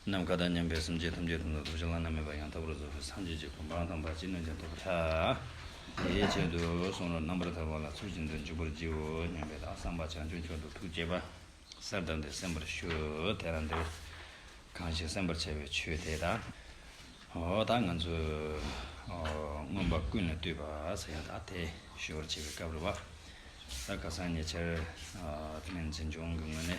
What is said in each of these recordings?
ནམ་མཁའ་དང་མཉམ་པའི་སེམས་ཅན་ཐམས་ཅད་དོན་དང་རྫོགས་བྱེད་བླ་ན་མེད་པ་ཡང་དག་པར་རྫོགས་པའི་སངས་རྒྱས་ཀྱི་གོ་འཕང་དང་བར་ཆད་ནོན་ཅིང་ཐོབ་པར་བྱ། དེའི་ཆེད་དུ་གསུང་རབ་རྣམ་པར་དག་པ་ལ་ཚུལ་བཞིན་དུ་འཇུག་པར་བགྱིའོ་སྙམ་པས་དང་བསམ་པ་བྱང་ཆུབ་མཆོག་ཏུ་ཐུགས་བསྐྱེད་པ་གསལ་བཏབ་སྟེ་གསན་པར་ཞུ། དེ་ལ་འདིར་གང་ཞིག་གསན་པར་བྱ་བའི་ཆོས་དེ་དང། འོ་ད་ང་ཚོས། མངོན་པ་ཀུན་ལ་བཏུད་པ་ས་ཡ་དག་དེ་ཞུ་བར་བྱེད་པའི་སྐབས་རེ་བ། ད་ག་སང་ཉེ་ཆར། སྨན་རྩིས་འབྱུང་གི་ངོས་ནས།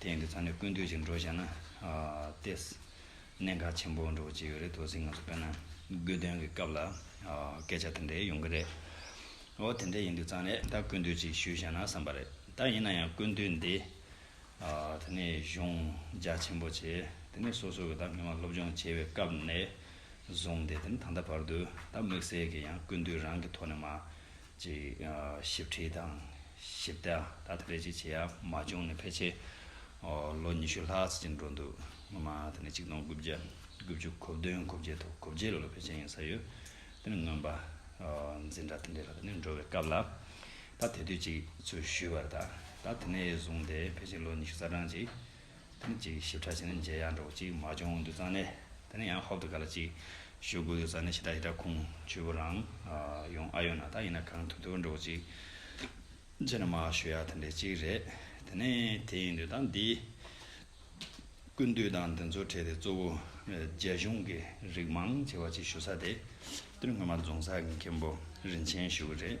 དེང་གི་ཚ་ནས་ཀུན་འདུས་ཅིག་འགྲོ་བྱས་ན། ལྟས། གནད་འགག་ཆེན་པོ་འགྲོ་བ་ཅིག་ཡོད་རེད་དོ་ཟིག་ང་ཚོ་དཔེར་ན། དགོས་དོན་གྱི་སྐབས་ལ། སྐད་ཆ་དེ་འདྲའི་ཡོང་གི་རེད། འོ་དེ་འདྲ་ཡིན་དུས་ཙང་ལས་ད་ཀུན་འདུས་ཅིག་ཞུས་བྱས་ན་བསམ་པ་རེད་ད་ཡིན་ན་ཡང་ཀུན་འདུས་འདི། དེ་ནས་གཞུང་རྒྱ་ཆེན་པོ་བྱས་དེ་ནས་སོ་སོ་གི་ད་མི་དམངས་སློབ་སྦྱོང་བྱས་པའི་སྐབས་ནས་བཟུང་སྟེ་དེ་ནས་ད་ལྟ་བར་དུ་ད་དམིགས་བསལ་གྱི་ཡང་ཀུན་འདུས་རང་གི་ཐོག་ནས་མ། ཅིག། ཞིབ་ཁྲིད་དང་ཞིབ་ལྟ་ད་ལྟ་རེ་ཅིག་བྱས་ཡ་མ་བྱུང་ནས་ཕལ་ཆེར་ལོ་ཉི་ཤུ་ལྷག་ཟིན་གྱི་འགྲོ་འདུག་སྔོན་མ་དེ་ནས་ཆིག་སྟོང་དགུ་བརྒྱ་དགུ་བཅུ་གོ་བདུན་གོ་བརྒྱད་དང་གོ་བརྒྱད་ལོ་ལ་ཕལ་ཆེར་ཡིན་ས་ཡོད་དེ་ནས་མངོན་པ་འཛིན་གྲྭ་དེ་འདྲའི་ལ་དེ་ནས་འགྲོ་བའི་སྐབས་ལ་ད་དེ་དུས་ཅིག་ཚུལ་ཞུས་པར་ད་ད་དེ་ནས་བཟུང་སྟེ་ཕལ་ཆེར་ལོ་ཉི་ཤུ་རྩ་གྲངས་ཅིག་ཐུམ་གཅིག་ཞིབ་ཕྲ་བྱས་ནས་མཇལ་ཡག་འདྲ་བོ་གཅིག་མ་བྱུང་འདུག་ཙང་ནས་དེ་ནས་ཡང་ཧོབ་ཏུ་ག་ལ་ཅིག་ཞུ་དགོས་འདུག་ཙང་ནས་ཞེ་དྲག་ཞེ་དྲག་ཁུང་བྱུས་པོ་རང་ཡོང་ཨ་ཡོད་ན་ད་ཡིན་ན་གང་ཐུབ་ཐུབ་འདྲ་བོ་གཅིག་བྱས་ན་མ་ཞུ་ཡག་དེ་འདྲའི་གཅིག་རེད་དེ་ནས་དེ་ཡིན་དུས་ད་འདི་ཀུན་བཏུས་དང་འདི་ཚོ་བྲལ་ཏེ་གཙོ་བོ་རྒྱ་གཞུང་གི་རིགས་མང་ཆེ་བ་གཅིག་ཞུ་ས་དེ་སྟོད་སྔོན་མ་རྫོང་ས་དགེ་མཁན་པོ་རིན་ཆེན་ཞུ་གི་རེད།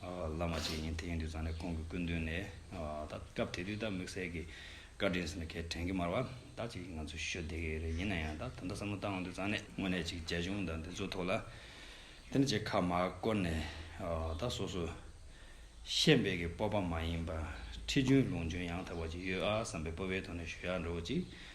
བླ་མ་བཅས་ཡིན་དེ་ཡིན་དུས་ཚང་ནས་ཁོང་གི་སྐུ་མདུན་ནས་ད་སྐབས་དེ་དུས་ད་དམིགས་བསལ་གྱི་བཀའ་དྲིན་ཟིན་ན་གལ་དྲན་གྱི་མར་བ་ད་ཅིག་ང་ཚོ་ཞུ་བདེ་གི་རེད་ཡིན་ན་ཡང་ད་ད་ལྟ་བསམ་བློ་བཏང་འོང་དུས་ཚང་ནས་དངོས་གནས་ཅིག་རྒྱ་གཞུང་དང་འདི་ཚོ་ཐོག་ལ་དེ་འདྲ་ཅིག་ཁ་མ་བསྐོར་ནས་ད་སོ་སོ་ཤེས་དཔལ་གྱི་སྤོབས་པ་མ་ཡིན་པ་ཁྲི་རྒྱུན་ལུང་རྒྱུན་ཡང་དག་པ་ཅིག་ཡོད་ཨ་བསམ་པའི་སྤོབས་པའི་ཐོག་ནས་ཞུ་ཡག་འགྲོ་བ་ཅིག་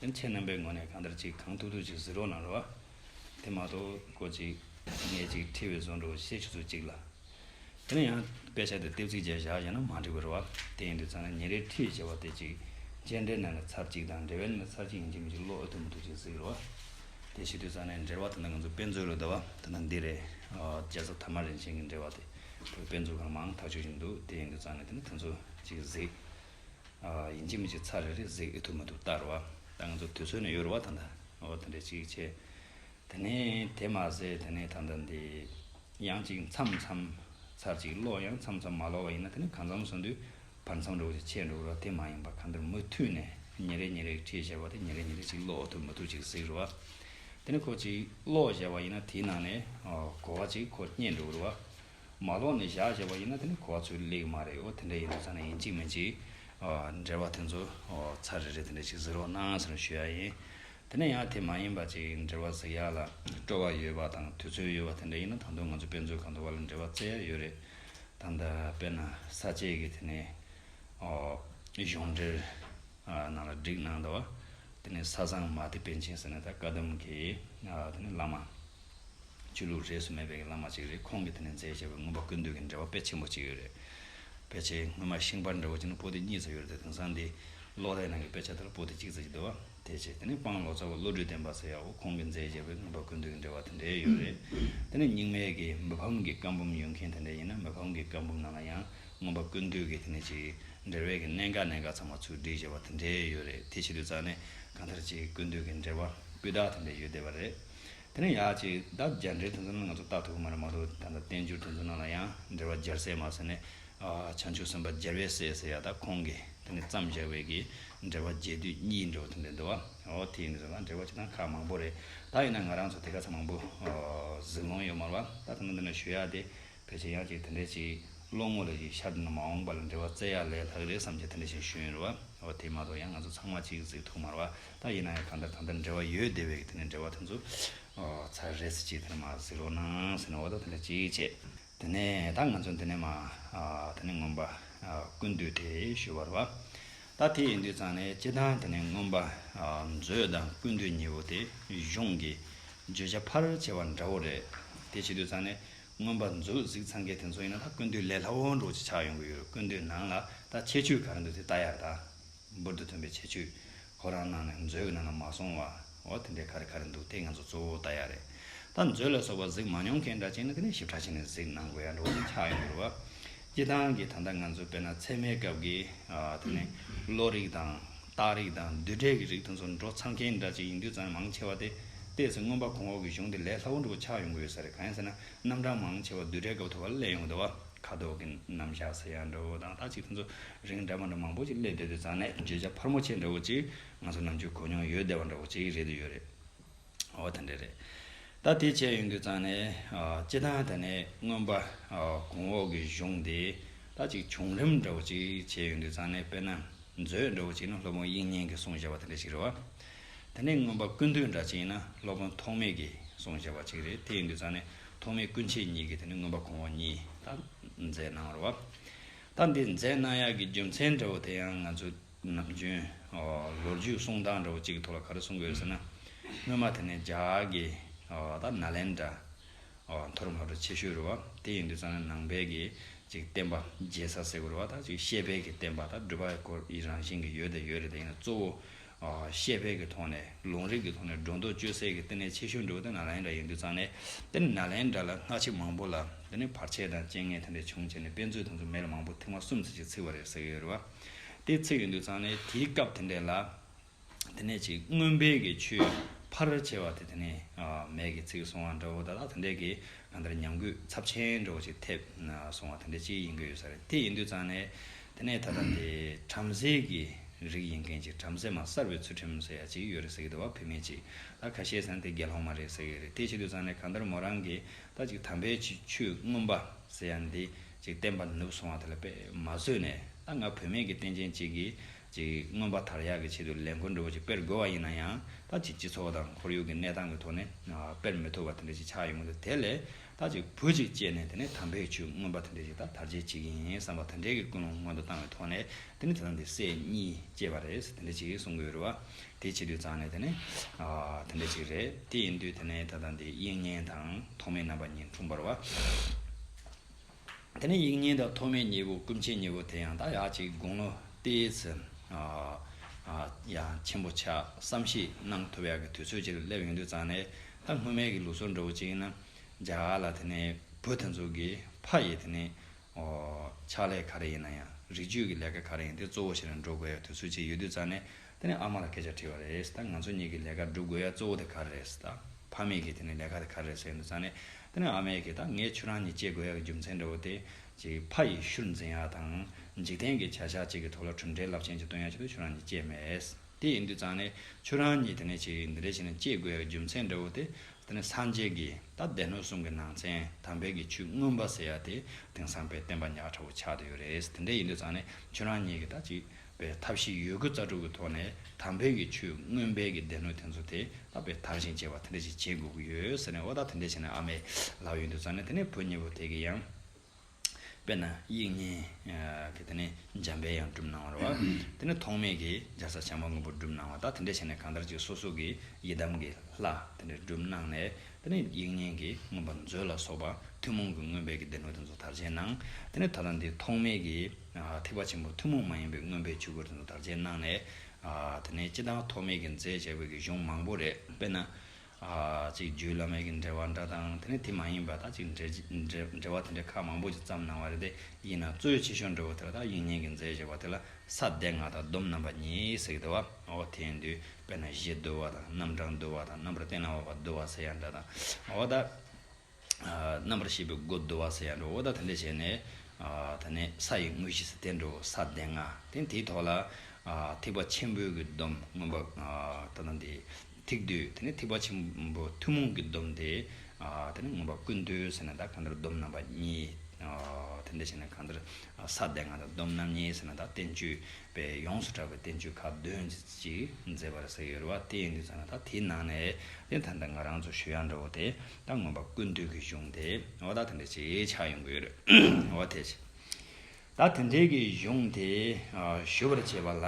ཡང་ཁྱེད་རྣམ་པའི་ངོ་ནས་གང་ལྟར་ཅིག་གང་ཐུག་ཐུག་ཅིག་ཟི་རོ་ན་རོ་ཨ། དེ་མ་གཏོགས་གོ་ཅིག་ངས་ཅིག་ཁྲིད་བས་བཟོ་འགྲོ་བ་ཤེས་ཆུ་ཚོད་གཅིག་ལ། དེ་ན་ཡང་དཔེ་ཆ་དེ་ལྟེབ་ཚིག་བཅས་བཞག་ཡོད་ན་མ་འགྲིག་པར་རོ་ཨ། དེ་ཡིན་དུས་ཚང་ན་ཉིན་རེའི་ཁྲིད་ཅེས་པ་དེ་ཅིག་མཇལ་འབྲས་ན་ན་ཚར་གཅིག་དང་འབྲེལ་བའི་ན་ན་ཚར་གཅིག་ཡིན་གྱི་མི་གཅིག་ལོག་ཨེ་ཐུག་མི་ཐུག་ཅིག་གཟིགས་རོ་ཨ། དེ་ཤེས་དུས་ཚང་ནའི་འབྲེལ་བ་ད་ལྟ་ང་ཚོ་དཔེ་མཛོད་ལོ་ཟླ་བ་ད་ལྟ་འདི་རེད། རྒྱལ་ས་དྷ་མ་རིན་ཆེན་གྱི་འབྲེལ་བ་དེ་ད་ལྟ་དཔེ་མཛོད་གང་མང་ཐག་ཆོད་ཅིག་འདུག་དེ་ཡིན་དུས་ཚང་ན་དེ་ན་དེ་ཚོ་ཅིག་གཟིགས། ཡིན་གཅིག་མིན་གཅིག་ཚར་རེ་རེ་གཟིགས་ཨེ་ཐུབ་མི་ཐུབ་བལྟ་རུ་བ། ད་ང་ཚོ་དུས་ཚོད་ནི་ཡོལ་བ་དང་འདའ་བ་དེ་འདྲ་གཅིག་བྱས། དེ་ནས་དེ་མ་ཟད་དེ་ནས་ད་ལྟ་འདི་ཡང་གཅིག་མཚམས་མཚམས་ཚར་གཅིག་ལོག་ཡང་མཚམས་མཚམས་མ་ལོག་བ་ཡིན་ན་དེ་ནི་གང་མཚམས་སོང་དུས་བར་མཚམས་འགྲོ་གཅིག་ཆད་འགྲོ་རུ་བ་དེ་མ་ཡིན་པར་གང་ལྟར་མུ་མཐུད་ནས་ཉིན་རེ་ཉིན་རེ་གཅིག་བྱས་པ་དེ་ཉིན་རེ་ཉིན་རེ་གཅིག་ལོག་ཐུབ་མི་ཐུབ་གཅིག་གཟིགས་རུ་བ། དེ་ནི་ཁོ་གཅིག་ལོག་བྱས་པ་ཡིན་ན་དེའི་ནང་ནས་གོ་བ་གཅིག་ཁོ་རྙེད་འགྲོ་རུ་བ། མ་ལོག་ནས་བཞག་བྱས་པ་ཡིན་ན་དེ་ནི་གོ་བ་ཚོད་ལེགས་མ་རེད་འོ་དེ་འདྲ་ཡིན་ན་ཚ་ནས་ཡིན་གཅིག་མིན་གཅིག། འབྲེལ་བ་དེ་ཚོ་ཚ་རེ་རེ་དེ་འདྲ་ཞིག་གཟིགས་རོགས་གནང་ཟེར་ནས་ཞུ་ཡག་ཡིན། དེ་ནས་ཡང་དེ་མ་ཡིན་པ་ཅིག་འབྲེལ་བ་གཟིགས་ཡག་ལ་སྤྲོ་བ་ཡོད་པ་དང་དུས་ཚོད་ཡོད་པ་དེ་འདྲ་ཡིན་ན་ད་དུང་ང་ཚོ་དཔེ་མཛོད་ཁང་དུ་བ་ལ་འབྲེལ་བ་བཙལ་ཡག་ཡོད་རེད་ད། འདི་དཔེར་ན་ས་བཅད་ཀྱི་དེ་ནས་གཞུང་འབྲེལ་ནང་ལ་བསྒྲིགས་གནང་འདུག་དེ་ནས་ས་བཟང་མ་ཏི་པཎ་ཆེན་ཟེར་ནས་ད་བཀའ་གདམས་ཀྱི་དེ་ནས་བླ་མ། ཆོས་ལུགས་རེས་སུ་མེད་པའི་བླ་མ་གཅིག་རེད་ཁོང་གིས་དེ་ནས་མཛད་བྱས་པའི་མངོན་པ་ཀུན་འདུས་ཀྱི་འགྲེལ་བ་དཔེ་ཆེན་པོ་གཅིག་ཡོད་རེད། དཔེ་ཆའི་སྔོན་མ་ཤིང་པར་འདྲ་བོ་གཅིག་ནི་པོ་ཏི་གཉིས་ཚ་ཡོད་རེད་དེ་དེང་སང་འདི་ཀློག་རའི་ནང་གི་དཔེ་ཆ་དེ་ལ་པོ་ཏི་གཅིག་ཚ་གཅིག་འདུག་བ་དེ་བྱས་དེ་ནས་དཔང་ལོ་ཚ་བོ་བློ་གྲོས་ལྡན་པ་ཟེར་ཡག་པོ་ཁོང་གིས་མཛད་བྱས་པའི་མངོན་པ་ཀུན་འདུས་ཀྱི་འགྲེལ་བ་དེ་འདྲའི་ཡོད་རེད་དེ་ནས་རྙིང་མའི་གི་མི་ཕམ་གི་བཀའ་འབུམ་ཡོད་མཁན་དེ་འདྲ་ཡིན་ན་མི་ཕམ་གི་བཀའ་འབུམ་ནང་ལ་ཡང་མངོན་པ་ཀུན་འདུས་ཀྱི་དེ་ནས་ཅིག་འགྲེལ་བས་གི་གནད་འགག་གནད་འགག་ཚང་མ་ཚུར་བསྒྲིགས་བྱས་པ་དེ་འདྲའི་ཡོད་རེད་དེ་བྱེད་དུས་རྩ་ནས་གང་ལྟར་ཅིག་ཀུན་འདུས་ཀྱི་འགྲེལ་བ་སྤུས་དག་དེ་འདྲའི་ཡོད་བསྡད་པ་རེད། དེ་ནས་ཡག་ཅིག་ད་རྒྱ་འདྲེ་དེ་ཚོ་ནི་ང་ཚོ་བརྟག་ཐུབ་ཀྱི་མ་རེད་མ་གཏོགས་ད་ལྟ་བསྟན་འགྱུར་དེ་ཚོའི་ནང་ལ་ཡང་འགྲེལ་བ་སྦྱར་སའི་མ་ཟེར་ནས་བྱང་ཆུབ་སེམས་དཔའ་རྒྱལ་བས་བསད་ཟེར་ཡག་ད་ཁོང་གིས་དེ་ནི་བརྩམས་བཞག་བས་ཀྱི་འགྲེལ་བ་རྒྱས་བསྡུས་གཉིས་འགྲོ་ཐུབ་འདོད་འདུག་བ་ཨོ་དེ་ཡིན་ཟེར་ན་འགྲེལ་བ་སྤྱི་དང་ཁག་མང་པོ་རེད་ད་ཡིན་ན་ང་རང་ཚོ་དེ་ག་ཚ་མང་པོ་ཟིག་ལོང་ཡོད་མ་རེད་བ་ད་དེ་ནི་འདི་ནས་ཞུ་ཡག་དེ་ཕལ་ཆེར་ཡག་ཅིག་དེ་འདྲས་ཅིག་ཀློག་མོ་ལ་ཡིས་ཤར་དུ་ནི་མ་འོངས་པ་ལ་འབྲེལ་བ་བཙལ་ཡག་ལས་ལྷག་རེད་བསམ་གྱི་དེ་འདྲ་ཞིག་ཞུ་ཡོད་རེད་བ་འོ་དེ་མ་གཏོགས་ཡང་ང་ཚོ་ཚང་མ་གཅིག་གཟིགས་ཐུག་མར་བ་ད་ཡིན་ན་ཡང་གང་ལྟར་གང་ལྟར་འབྲེལ་བ་ཡོད་བདེ་བས་དེ་ནས་འབྲེལ་བ་དེ་ཚོ་ཚར་རེད་ཟེར་གྱི་དེ་ནས་མ་གཟིགས་རོགས་གནང་ཟེར་ནས་འོ་ད་དེ་འདྲ་ཅིག་བྱས་དེ་ནས་ད་ང་ཚོ་འདི་ནས་མ་དེ་ནས་རྔོན་པ་ཀུན་འདུས་དེ་ཞུ་བར་བ་ད་དེ་ཡིན་དུས་ཙང་ནས་སྤྱི་དང་དེ་ནས་རྔོན་པ་མཛོད་དང་ཀུན་འདུས་གཉིས་པོ་དེ་གཞུང་གི་བརྗོད་བྱ་ཕར་བྱས་བ་འདྲ་བོ་རེད་དེ་བྱེད་དུས་ཙང་ནས་མངོན་པར་མཛོད་གཟིགས་ཚང་གི་དེ་ཚོ་ཡིན་ན་ད་ཀུན་འདུས་ལས་ལྷ་བོན་འབྲོག་ཅིག་ཆགས་ཡོང་གི་ཡོད་ཀུན་འདུས་ནང་ལ་ད་ཁྱད་ཆོས་ག་རེ་འདུག་དེ་ལྟ་ཡག་ད། འབུར་དུ་ཐོན་པའི་ཁྱད་ཆོས། ཁོ་རང་ནང་ནས་མཛོད་ཀྱི་ནང་ལ་མ་སོང་བ། འོ་དེ་འདྲའི་ག་རེ་ག་རེ་འདུག་དེ་ང་ཚོ་གཙོ་བོ་ལྟ་ཡག་རེད། ད་མཛོད་ལ་སོགས་པ་གཟིགས་མ་མྱོང་མཁན་འདྲ་ཅིག་ནི་ག་ནས་ཞིབ་ཕྲ་བྱས་ནས་གཟིགས་ནང་དགོས་ཡ་འབྲོག་ཅིག་ཆགས་ཡོང་གི་རུ་བ། སྤྱི་བཏང་གི་ད་ལྟ་ང་ཚོ་དཔེར་ན་ཚད་མའི་སྐབས་ཀྱི་དེ་ནི་བློ་རིག་དང། རྟགས་རིག་དང་བསྡུས་གྲྭས་ཀྱི་རིག་དང་ཚོར་འགྲོ་ཚང་མཁན་འདྲ་གཅིག་ཡིན་དུས་ཙམ་མང་ཆེ་བ་དེ་ལྟས་སུ་མངོན་པ་གོང་འོག་གི་གཞུང་དེ་ལས་སླ་བོ་འགྲུབ་པ་ཆགས་ཡོང་གི་ཡོད་ས་རེད་གང་ཡིན་ཟེར་ན་རྣམ་གྲངས་མང་ཆེ་བ་བསྡུས་གྲྭའི་སྐབས་ཐོབ་པ་ལ་སླེབས་ཡོང་དུས་བ་ཁ་དོག་གི་རྣམ་གཞག་ཟེར་ཡག་འདྲ་བོ་དང་རྟགས་གཅིག་དེ་ཚོ་རིང་འདྲ་མ་འདྲ་མང་པོ་ཅིག་སླེབས་བསྡད་དུས་ཙང་ནས་བརྗོད་བྱ་ཕར་མོ་ཆེ་འདྲ་བོ་ཅིག་ང་ཚོ་ནམ་རྒྱུན་གོ་མྱོང་ཡོད་བསྡད་པ་འདྲ་བོ་ཅིག་རེད་དུས་ཡོད་རེད། འོ་དེ་འདྲ་རེད། ད་དེ་བྱས་ཡོང་དུས་ཙང་ནས་སྤྱི་བཏང་དེ་ནས་རྔོན་པ་གོང་འོག་གི་གཞུང་དེ་ད་ཅིག་བྱུང་རིམ་འདྲ་བོ་ཅིག་བྱས་ཡོང་དུས་ཙང་ནས་དཔེར་ན་མཛོད་འདྲ་བོ་ཅིག་ནི་སློབ་དཔོན་དབྱིག་གཉེན་གྱིས་གསུང་བཞག་པ་དེ་འདྲ་ཞིག་རེད་བ། དེ་ནས་རྔོན་པ་ཀུན་འདུས་འདྲ་ཅིག་ཡིན་ན་སློབ་དཔོན་ཐོགས་མེད་ཀྱིས་གསུང་བཞག་པ་ཅིག་རེད་དེ་ཡིན་དུས་ཙང་ནས་ཐོགས་མེད་སྐུ་མཆེད་གཉིས་ཀྱིས་དེ་ནས་རྔོན་པ་གོང་འོག་གཉིས་ད་མཛད་གནང་རོགས་བ། ད་འདི་མཛད་གནང་ཡག་གི་རྒྱུ་མཚན་འདྲ་བོ་དེ་ཡང་ང་ཚོ། ནམ་རྒྱུན། ལོ་རྒྱུས་གསུང་སྟངས་འདྲ་བོ་གཅིག་གི་ཐོག་ལ་ག་རེ་གསུང་དགོས་ཟེར་ན། སྔོན་མ་དེ་ནས་རྒྱ་གི་ད་ནཱ་ལེནྡྲ། མཐོ་རིམ་ཧ་ཅང་ཆེ་ཤོས་རུ་བ། དེ་ཡིན་དུས་ཙང་ནས་ནང་པའི་གི་ཅིག་བསྟན་པ་རྒྱས་ས་ཟེར་དགོས་རུ་བ་དང་ཅིག་ཤེས་དཔལ་གི་བསྟན་པ་དང་སྒྲུབ་པ་སྐོར་ཡི་རང་བཞིན་གི་ཡོད་དང་ཡོད་རེད་དེ་ཡིན་ན་གཙོ་བོ། ཤེས་དཔལ་གི་ཐོག་ནས་ལུང་རིགས་གི་ཐོག་ནས་སྒྲོ་འདོགས་གཅོད་སའི་གི་བསྟི་གནས་ཆེ་ཤོས་འདྲ་བོ་དེ་ནཱ་ལེནྡྲ་ཡིན་དུས་ཙང་ནས་དེ་ནི་ནཱ་ལེནྡྲ་ལ་སྔགས་ཆེ་མང་པོ་ལ་དེ་ནི་བར་ཆད་དང་རྐྱེན་ངན་དེ་འདྲ་བྱུང་བྱས་ནས་དཔེ་མཛོད་དེ་ཚོ་མེ་ལ་མང་པོ་ཐིག་མ་གསུམ་ཟེར་ཅིག་ཚིག་བ་རེད་ཟེར་གི་ཡོད་རུ་བ། དེ་ཚེ་ཡོད་འདོད་ཚང་ནས་དེའི་སྐབས་དེ་འདྲས་ལ། དེ་ནས་ཅིག་སྔོན་དཔལ་གྱི་ཆུས་ཕ་རོལ་བྱེ་བ་དེ་དེ་ནས་མལ་གྱི་ཚིག་སོང་བ་འདྲ་བོ་ད་ལྟ་དེ་འདྲས་ཀྱི་གང་ལྟར་ཉམས་གུད་ཚབས་ཆེན་འདྲ་བོ་ཅིག་ཐེབས་སོང་བ་དེ་འདྲས་ཅིག་ཡིན་གྱི་ཡོད་ས་རེད་དེ་ཡིན་འདོད་ཚང་ནས་དེ་ནས་ད་ལྟ་དེ་བྲམ་ཟེ་གྱི་རིགས་ཡིན་མཁན་ཅིག་བྲམ་ཟེ་མ་གསར་བའི་ཚུལ་ཁྲིམས་ཟེར་ཡག་ཅིག་ཡོད་རེད་ཟེར་གྱི་འདུག་བ་བུད་མེད་ཅིག་ལ་ཁ་ཤས་ཟན་དེ་དགེ་སློང་མ་རེད་ཟེར་གྱི་རེད་དེ་བྱེད་འདོད་ཚང་ནས་གང་ལྟར་མོ་རང་གིས་ད་ཅིག་དམ་པའི་ཆུས་སྔོན་པ་ཟེར་ཡག་འདི། ཅིག་བསྟན་པ་ནུབ་སོང་བ་དེ་ལ་པད་མ་བཟོས་ནས་ད་ང་བུད་མེད་ཀྱི་རྟེན་ཅན་གཅིག་གིས་ཅིག་མངོན་པ་དར་ཡག་གི་ཆེད་དུ་ལས་འཁུར་འདྲ་བོ་ཅིག་སྤེལ་དགོས་བ་ཡིན་ན་ཡང་ད་ཅིག་སྤྱི་ཚོགས་དང་ཁོར་ཡུག་གི་གནས་སྟངས་ཀྱི་ཐོག་ནས་སྤེལ་མི་ཐུབ་བ་དེ་འདྲ་ཅིག་ཆགས་ཡོང་གི་འདུག་དེ་ལས་ད་ཅིག་བུ་ཅིག་སྐྱེས་ནས་དེ་ནས་དམ་བེད་ཆུ་མངོན་པ་དེ་འདྲ་ཅིག་ད་དར་རྒྱས་གཅིག་ཡིན་བསམ་པ་དེ་འདྲའི་ཀྱི་ཀུན་སློང་སྔོན་དུ་བཏང་བའི་ཐོག་ནས་དེ་ནས་དེ་དང་དེ་སྲས་གཉིས་སྐྱེས་པ་རེད་དེ་འདྲ་ཅིག་གསུང་གི་ཡོད་རེད་བ་དེའི་ཕྱི་དུས་ཙང་ནས་དེ་ནས་དེ་འདྲ་ཅིག་རེད་དེ་ཡིན་དུས་དེ་ནས་ད་དང་དེའི་དབྱིག་གཉེན་དང་ཐོག་མའི་རྣམ་པ་གཉིས་འཁྲུངས་པར་བ། དེ་ནས་ཡིག་རྙིང་དང་ཐོག་མའི་མྱེས་པོ་ཀུན་མཁྱེན་མྱེས་པོ་དེ་ཡང་དག་ཡ་གཅིག་དགུང་ལོ་སྟེ་ཚུན་ཡང་ཆེན་པོ་ཆགས་བསམ་བཞིས་གནང་ཐུབ་ཡག་གི་དུས་ཚོད་ཅིག་ལ་སླེབས་ཡོང་དུས་ཙང་ནས་ད་སྔོན་མེད་ཀྱི་ལུགས་སྲོལ་འདྲ་བོ་ཅིག་ཡིན་ན་རྒྱ་གར་ལ་དེ་ནས་བོད་དེ་ཚོ་གི་ཕ་ཡི་དེ་ནས་ཕྱག་ལས་ག་རེ་ཡིན་ན་ཡང་རིགས་རྒྱུད་ཀྱི་ལས་ཀ་ག་རེ་ཡིན་དེ་གཙོ་བོ་ཞིག་ལ་འགྲོ་དགོས་ཡག་གི་དུས་ཚོད་ཅིག་ཡོད་དུས་ཙང་ནས་དེ་ནས་ཨ་མ་ལ་སྐད་ཆ་དྲིས་པ་རེད། ད་ང་ཚོ་གཉིས་ཀྱི་ལས་ཀ་སྒྲུབ་དགོས་ཡ་གཙོ་བོ་དེ་ག་རེད། ད་ཕ་མེས་ཀྱིས་དེ་ནས་ལས་ཀ་དེ་ག་རེད་ཟེར་གྱི་འདུག་ཙང་ནས། དེ་ནས་ཨ་མས་ཀྱིས་ད་ངས་ཁྱོད་རང་གཉིས་སྐྱེལ་དགོས་ཡ་གི་རྒྱུ་མཚན་འདྲ་བོ་དེ། གཅིག་ཕ་ཡི་ཤུལ་འཛིན་ཡ་དང། འཇིག་རྟེན་གྱི་བྱ་བཞག་གཅིག་གི་ཐོག་ལ་གྲུབ་འབྲས་རླབས་ཆེན་གཅིག་སྟོན་ཡ་གཅིག་ཏུ་ཁྱོད་རང་གཉིས་སྐྱེས་མེད། དེ་ཡིན་དུས་ཙང་ནས། ཁྱོད་རང་གཉིས་དེ་ནས་གཅིག་འདི་འདྲའི་ཆེ་ནས་སྐྱེལ་དགོས་ཡ་གི་རྒྱུ་མཚན་འདྲ་བོ་དེ། དེ་ནས་སངས་རྒྱས་ཀྱིས་ད་སྡེ་སྣོད་གསུམ་གྱི་ནང་ཚན་དམ་དཔལ་གྱི་ཆུ་སྔོན་པ་ཟེར་ཡ་དེ་དེང་སང་དཔལ་བསྟན་པ་ཉག་ཕྲ་བོ་ཆགས་དུ་ཡོད་རེད། དེ་འདྲ་ཡིན་དུས་ཙང་ནས་ཁྱོད་རང་གཉིས་ཀྱིས་ད་གཅིག་པའི་ཐབས་ཤེས་ཡོད་རྒུ་རྩ་དྲུག་གི་ཐོག་ནས་དམ་འབེལ་གྱི་ཆུ་སྔོན་སྦལ་གྱི་སྡེ་སྣོད་དེ་ཚོ་དེ་ལ་བས་དར་ཞིང་རྒྱས་པ་དེ་འདྲ་ཞིག་བྱེད་དགོས་ཀྱི་ཡོད་ཟེར་ནས་ཨོ་ད་དེ་འདྲ་བྱས་ན་ཨ་མའི་ལག་ཡོད་འདུག་ཙང་ནས་དེ་ནས་བུ་གཉིས་པོ་དེ་གི་ཡང། དཔེར་ན་དབྱིག་གཉེན་གྱི་དེ་ནས་འཇམ་དཔལ་ཡང་བསྒྲུབས་གནང་བར་བ་དེ་ནས་ཐོགས་མེད་ཀྱི་འཇའ་ས་བྱང་མ་མགོན་པོ་བསྒྲུབས་གནང་བ་ད་དེ་འདྲ་བྱས་ནས་གང་ལྟར་ཅིག་སོ་སོ་གི་ཡི་དམ་གྱི་ལྷ་དེ་འདྲ་བསྒྲུབས་གནང་ནས་དེ་ནས་དབྱིག་གཉེན་གྱི་མངོན་པར་མཛོད་ལ་སོགས་པ་ཐུན་མོང་གི་མངོན་སྦལ་གྱི་སྡེ་སྣོད་དེ་ཚོ་དར་རྒྱས་གནང་དེ་ནས་ད་ལྟ་འདི་ཐོགས་མེད་ཀྱི། ཐེག་པ་ཆེན་པོ་ཐུན་མོང་མ་ཡིན་པའི་མངོན་པའི་ཆོས་སྐུ་རིན་ཐང་དར་ཆེན་གནང་ནས། དེ་ནས་སྤྱི་དང་ཐོགས་མེད་ཀྱི་མཛད་བྱས་པའི་གཞུང་མང་པོ་རེ་སྤེལ་ན། གཅིག་རྒྱུད་བླ་མེད་ཀྱི་འགྲེལ་བ་འདྲ་དང་དེ་ནས་དེ་མ་ཡིན་པ་དག་ཅིག་འགྲེལ་བ་དེ་འདྲའི་ཁག་མང་པོ་ཅིག་བརྩམས་གནང་བ་རེ་དེ་ཡིན་ན་གཙོའི་ཆེ་ཤོས་འགྲོ་བ་དེ་ལ་དག་དབྱིག་གཉེན་གྱི་མཛད་བྱས་པ་དེ་ལ་ས་སྡེ་ལྔ་དང་སྡོམ་རྣམ་པ་གཉིས་གཟིགས་བསྡུ་བའོ། དེ་ཡིན་དུས་དཔེར་ན་གཞི་བསྡུ་བ་དང་རྣམ་གྲངས་བསྡུ་བ་དང་རྣམ་པར་བསྟན་ལ་བ་བསྡུ་བ་ཟེར་ཡང་འདྲ་དང་འོ་དང། རྣམ་པར་ཤེས་པའི་སྒོ་བསྡུ་བ་ས་ཡ་འགྲོའོ། ད་དེ་འདྲ་བྱས་ནས། ད་ནི་ས་ཡི་དངོས་གཞི་ས་སྟེ་འགྲོའོ་ས་སྟེ་ང། དེ་དེའི་ཐོག་ལ། ཐེག་པ་ཆེན་པོའི་གྱི་སྡོམ་མངོན་པ། ད་ནི་འདི། ཐིག་བསྡུས་དེ་ནི་ཐེག་པ་ཆེན་པོ་ཐུན་མོང་གི་སྡོམ་དེ། དེ་ནི་མངོན་པ་ཀུན་བསྡུས་ཟེར་ན་ད་གང་ལྟར་སྡོམ་རྣམ་པ་གཉིས། དེ་འདྲ་བྱས་ན་གང་ལྟར་ས་སྟེ་ང་དང་སྡོམ་རྣམ་གཉིས་ཟེར་ན་ད་བསྟན་བཅོས་པས་ཡོངས་སུ་གྲགས་པའི་བསྟན་བཅོས་ཁག་བདུན་ཅིག་མཛད་པར་ཟེར་ཡོད་རེད་བ་དེ་ཡིན་དུས་ཟེར་ན་ད་དེའི་ནང་ནས། དེ་ད་ནི་ང་རང་ཚོ་ཞུ་ཡང་འགྲོའོ་དེ། ད་ངོམས་པ་ཀུན་འདུས་ཀྱི་གཞུང་དེ་འོ་ད་དེ་འདྲ་ཅིག་ཆགས་ཡོང་གི་ཡོད་རེད་འོ་དེ། ད་དེ་འདྲའི་གི་གཞུང་དེ་ཞུ་བར་བྱེད་པ་ལ།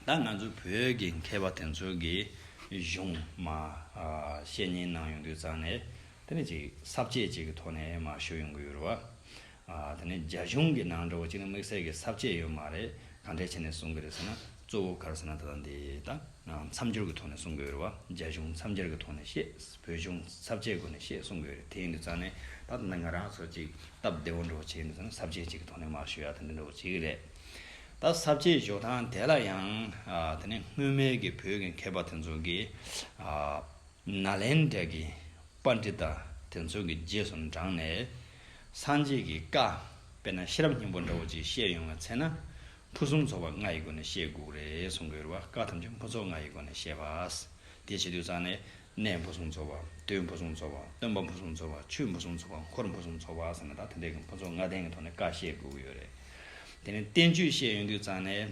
ད་ང་ཚོ་བོད་ཀྱི་མཁས་པ་དེ་ཚོ་གི་གཞུང་མ་བཤད་ཉན་གནང་ཡོང་དུས་ཙང་ནས་དེ་འདྲ་ཅིག་ཟབ་ཆས་ཅིག་གི་ཐོག་ནས་མ་ཞུ་ཡོང་གི་ཡོད་རེད་བ། ད་ནི་རྒྱ་གཞུང་གི་ནང་འདྲ་བོ་གཅིག་ན་དམིགས་བསལ་གྱི་ཟབ་ཆས་ཡོད་མ་རེད་ག་འདྲའི་ཆ་ནས་གསུང་གི་རེད་ཟེར་ན་གཙོ་བོ་གར་ཟེར་ན་ད་ལྟ་འདི་ལྟ་མཚམས་སྦྱོར་གྱི་ཐོག་ནས་གསུང་གི་ཡོད་རེད་བ་རྒྱ་གཞུང་མཚམས་སྦྱར་གྱི་ཐོག་ནས་ཤེས་བོད་གཞུང་ཟབ་ཆས་སྒོ་ནས་ཤེས་གསུང་གི་ཡོད་རེད་དེ་ཡིན་དུས་རྩ་ནས་ད་ད་ནི་ང་རང་ཚོ་གཅིག་སྟབས་བདེ་བོ་འདྲ་བོ་བྱེད་ཡིན་དུས་ཟབ་ཆས་གཅིག་གི་ཐོག་ནས་མར་ཞུ་ཡ་དེ་འདྲ་འདྲ་བོ་བྱེད་ཀྱི་རེད་ད་ཟབ་ཆས་ཞོག་དང་དེ་ལ་ཡང་ད་ནི་སྔོན་མའི་གི་བོད་གི་མཁས་པ་དེ་ཚོ་གི་ནཱ་ལེནྡྲ་གི་པཱ་འདྲི་ཏཱ་དེ་ཚོ་གི་རྗེས་སུ་འབྲངས་ནས། སངས་རྒྱས་ཀྱི་བཀའ། དཔེར་ན་ཤེས་རབ་སྙིང་པོ་འདྲ་བོ་གཅིག་བཤད་ཡོང་བའི་ཚེ་ན། ཕུན་སུམ་ཚོགས་པ་ལྔ་ཡི་སྒོ་ནས་བཤད་དགོས་རེད་གསུང་གི་ཡོད་པ་བཀའ་ཐམས་ཅད་ཕུན་ཚོགས་ལྔ་ཡི་སྒོ་ནས་བཤད་པ། དེ་བྱེད་དུས་ཙང་ནས། གནས་ཕུན་སུམ་ཚོགས་པ། དུས་ཕུན་སུམ་ཚོགས་པ། སྟོན་པ་ཕུན་སུམ་ཚོགས་པ། ཆོས་ཕུན་སུམ་ཚོགས་པ། འཁོར་ཕུན་སུམ་ཚོགས་པ་ཟེར་ན་ད་དེ་འདྲའི་ཕུན་ཚོགས་ལྔ་ལྡན་གྱི་ཐོག་ནས་བཀའ་བཤད་དགོས་ཀྱི་ཡོད་རེད། དེ་ནས་བསྟན་བཅོས་བཤད་ཡོང་དུས་ཙང་ནས།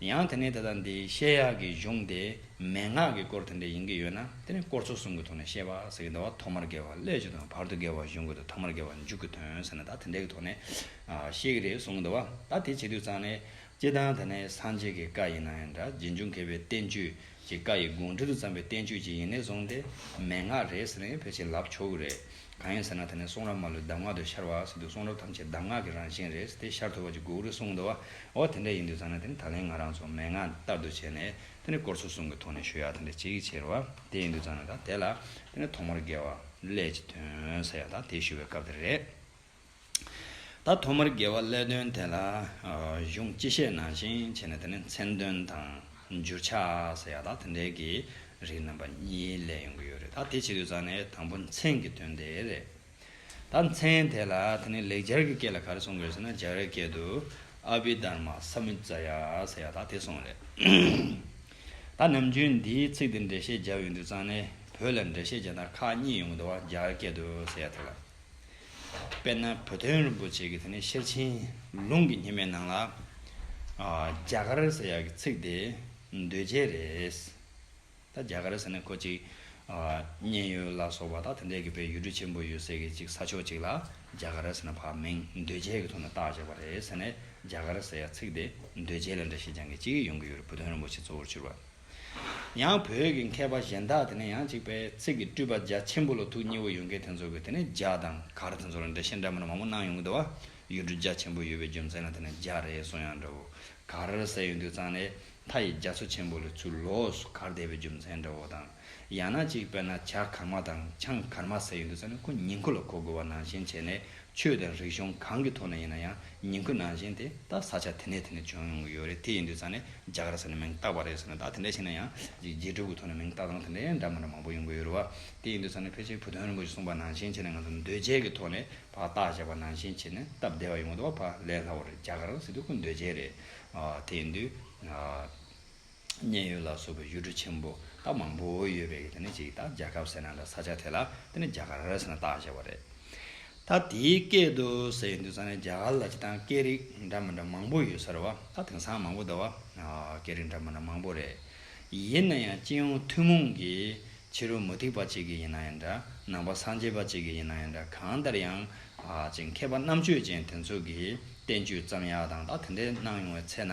ཡང་དེ་ནས་དེ་དང་དེའི་བཤད་ཡག་གི་གཞུང་དེ་མན་ངག་གི་སྐོར་དེ་འདྲ་ཡིན་གྱི་ཡོད་ན་དེ་ནི་སྐོར་ཚོ་གསུམ་གྱི་ཐོག་ནས་བཤད་པ་ཟེར་གྱི་འདུག་བ་ཐོག་མར་དགེ་བ་སླད་ཅིག་དང་བར་དུ་དགེ་བ་གཞུང་དགོས་དུ་ཐོག་མར་དགེ་བ་མཇུག་གི་དོན་ཟེར་ན་ད་དེ་འདྲའི་གི་ཐོག་ནས་བཤད་གི་རེད་གསུང་གི་འདུག་བ་ད་དེ་བྱེད་དུས་ཙང་ནས་སྤྱི་བཏང་དེ་ནས་སངས་རྒྱས་ཀྱི་བཀའ་ཡིན་ན་ཡང་འདྲ་རྗེ་འབྱུང་མཁས་པའི་བསྟན་བཅོས་ཀྱི་བཀའ་ཡི་དགོངས་འདྲིར་བརྩམས་པའི་བསྟན་བཅོས་ཅིག་ཡིན་ནས་བཟུང་སྟེ་མན་ངག་རེད་ཟེར་ནས་ཕལ་ཆེར་ལབ་ཆོག་གི་རེད། གང་ཡིན་ཟེར་ན་ད་ནི་གསུང་རབ་མ་ལུས་གདམས་ངག་ཏུ་ཤར་བ་ཟེར་དུས་གསུང་རབ་ཐམས་ཅད་གདམས་ངག་གི་རང་བཞིན་རེད་ཟེར་ཏེ་ཤར་ཐོར་བ་ཅིག་གུག་རེ་གསུངས་འདུག་བ་དེ་འདྲ་ཡིན་དུས་ཙང་ན་དེ་ནི་ད་ལན་ང་རང་ཚོ་མན་ངག་ལྟར་དུ་བྱས་ནས་དེ་ནི་སྐོར་ཚོ་གསུམ་གྱི་ཐོག་ནས་ཞུ་ཡག་དེ་འདྲ་ཅིག་བྱས་རེ་བ་དེ་ཡིན་དུས་ཙང་ན་ད་དེ་ལ་དེ་ནི་ཐོག་མར་དགེ་བ་ལས་ཀྱི་དོན་ས་ཡང་དང་དེ་ཞུ་བའི་སྐབས་དེ་རེད། ད་ཐོག་མར་དགེ་བ་སླད་དོན་དེ་ལ་གཞུང་སྤྱི་བཤད་ནང་བཞིན་བྱས་ནས་དེ་ནས་མཚན་དོན་དང་འགྱུར་ཆ་ཟེར་ཡག་དག་དེ་འདྲའི་གི་རིགས་རྣམ་པ་གཉིས་ལས་ཡོང་གི་ཡོད་རེད་ད་དེ་བྱེད་དུས་ཙང་ནས་དང་པོ་མཚན་གི་དོན་དེ་རེད། ད་མཚན་དེ་ལ་དེ་ནས་ལེགས་སྦྱར་གི་སྐད་ལ་ག་རེ་གསུང་དགོས་ཟེར་ན་སྦྱར་བའི་སྐད་དུ་ཨ་བྷི་དྷར་མ་ས་མུད་ཙ་ཡ་ཟེར་ཡག་དག་དེ་གསུང་རེད། ད་ནམ་རྒྱུན་འདིའི་ཚིག་འདི་འགྲེལ་བཤད་སྦྱར་ཡོང་དུས་ཙང་ནས་བོད་ལ་འགྲེལ་བཤད་བྱེད་ན་ཁག་གཉིས་ཡོང་གི་འདུག་བ་སྦྱར་བའི་སྐད་དུ་ཟེར་ཡག་དེ་ལ། དཔེར་ན་བུ་སྟོན་རིན་པོ་ཆེ་གི་དེ་ནས་ཤེར་ཕྱིན་ལུང་གི་ཉི་མའི་ནང་ལ། རྒྱ་གར་ཟེར་ཡག་གི་ཚིག་དེ་འདོད་བྱེད་རེད། ད་རྒྱ་གར་ཟེར་ན་ཁོ་ཅིག་མཉན་ཡོད་ལ་སོགས་པ་ད་དེ་འདྲས་ཀྱི་བའི་ཡུལ་གྲུ་ཆེན་པོ་ཡོད་སའི་གི་ཅིག་ས་ཕྱོགས་ཅིག་ལ་རྒྱ་གར་ཟེར་ན་བག་མེད་འདོད་བྱེད་ཀྱི་ཐོག་ནས་བཏགས་བྱས་པ་རེད་ཟེར་ནས་རྒྱ་གར་ཟེར་ཡག་ཚིག་དེ་འདོད་བྱེད་ལ་འདྲ་བྱེད་རྐྱང་གི་ཅིག་ཡོང་གི་ཡོད་རེད་བུ་སྟོན་རིན་པོ་ཆེ་གཙོ་བོར་གྱུར་པ། ཡང་བོད་ཀྱི་མཁས་པ་གཞན་དག་དེ་ནས་ཡང་གཅིག་པས་ཚིག་གི་སྤྲུལ་པ་རྒྱ་ཆེན་པོ་ལ་ཐུགས་མཉེས་པོ་ཡོད་མཁན་དེ་ཚོ་གི་དེ་ནས་རྒྱ་དང་གར་དེ་ཚོ་ལ་འགྲེལ་བཤད་འདྲ་མིན་མང་པོ་གནང་ཡོང་གི་འདུག་བ་ཡུལ་གྲུ་རྒྱ་ཆེན་པོ་ཡོད་པའི་རྒྱུ་མཚན་ལ་དེ་ནས་རྒྱ་རེད་གསུང་ཡང་འདྲ་བོ་གར་ཟེར་ཡོང་དུས་ཙང་ནས་མཐའ་ཡི་རྒྱ་མཚོ་ཆེན་པོ་ལས་ཚུར་ལོགས་སུ་གར་བསྡད་པའི་རྒྱུ་མཚན་འདྲ་བོ་དང་ཡང་ན་གཅིག་པས་ན་བྱ་གར་མ་དང་ཆང་གར་མ་ཟེར་ཡོང་དུས་ཙང་ནས་ཁོ་ཉིང་ཁུ་ལ་གོ་དགོས་བ་ནང་བཞིན་བྱས་ནས་ཆོས་དང་རིག་གཞུང་གང་གི་ཐོག་ནས་ཡིན་ན་ཡང་ཉིང་ཁུ་ནང་བཞིན་དེ་ད་ས་ཆ་དེ་ནས་དེ་ནས་བྱུང་ཡོང་གི་ཡོད་རེད་དེ་ཡིན་དུས་ས་ནས་རྒྱ་གར་ཟེར་ནས་མིང་བཏགས་པ་རེད་ཟེར་ན་ད་དེ་འདྲ་ཞིག་ན་ཡང་རྗེས་གྲུབ་ཀྱི་ཐོག་ནས་མིང་བཏགས་སྟངས་དེ་འདྲ་ཡང་འདྲ་མི་འདྲ་མང་པོ་ཡོང་གི་ཡོད་རེད་བ། དེ་ཡིན་དུས་ས་ནས་ཕལ་ཆེར་བུ་སྟོན་རིན་པོ་ཆེ་གསུངས་པ་ནང་བཞིན་བྱས་ནས་ང་ཚོ་འདོད་བྱའི་གི་ཐོག་ནས་བ་བཏགས་བྱས་པ་ནང་བཞིན་བྱས་ནས་སྟབས་བདེ་བ་ཡོང་གི་འདུག་བ་ཕ་ལས་སླ་བོ་རེད་རྒྱ་གར་ཟེར་དུས་ཁོ་འདོད་བྱའི་རེད། དེ་ཡིན་དུས། མཉན་ཡོད་ལ་སོགས་པའི་ཡུལ་གྲུ་ཆེན་པོ་དག་མང་པོ་ཡོད་པའི་དེ་ནི་ཅིག་དང་རྒྱལ་ཁབ་ཟེར་ན་ལ་ས་ཆ་དེ་ལ་དེ་ནི་རྒྱ་གར་ཟེར་ན་བཏགས་བྱས་པ་རེད། ད་དེའི་སྐད་དུ་ཟེར་ཡོད་འདུག་ས་ནི་རྒྱ་གར་ལ་སྤྱི་དང་སྐད་རིགས་འདྲ་མི་འདྲ་མང་པོ་ཡོད་ཟེར་བ་ད་དེང་སང་མང་པོ་འདུག་བ། སྐད་རིགས་འདྲ་མི་འདྲ་མང་པོ་རེད། ཡིན་ན་ཡང་སྤྱི་ཡོངས་ཐུན་མོང་གི་ཕྱི་རོལ་མུ་ཏིག་པ་གཅིག་གི་ཡིན་ན་ཡང་འདྲ་ནང་པ་སངས་རྒྱས་པ་གཅིག་གི་ཡིན་ན་ཡང་འདྲ་གང་ལྟར་ཡང་ཅིག་མཁས་པ་རྣམ་དཔྱོད་ཅན་དེ་ཚོ་གི་བསྟན་བཅོས་ཙམ་ཡག་དང་ད་དེ་འདྲའི་གནང་ཡོང་བའི་ཚེ་ན་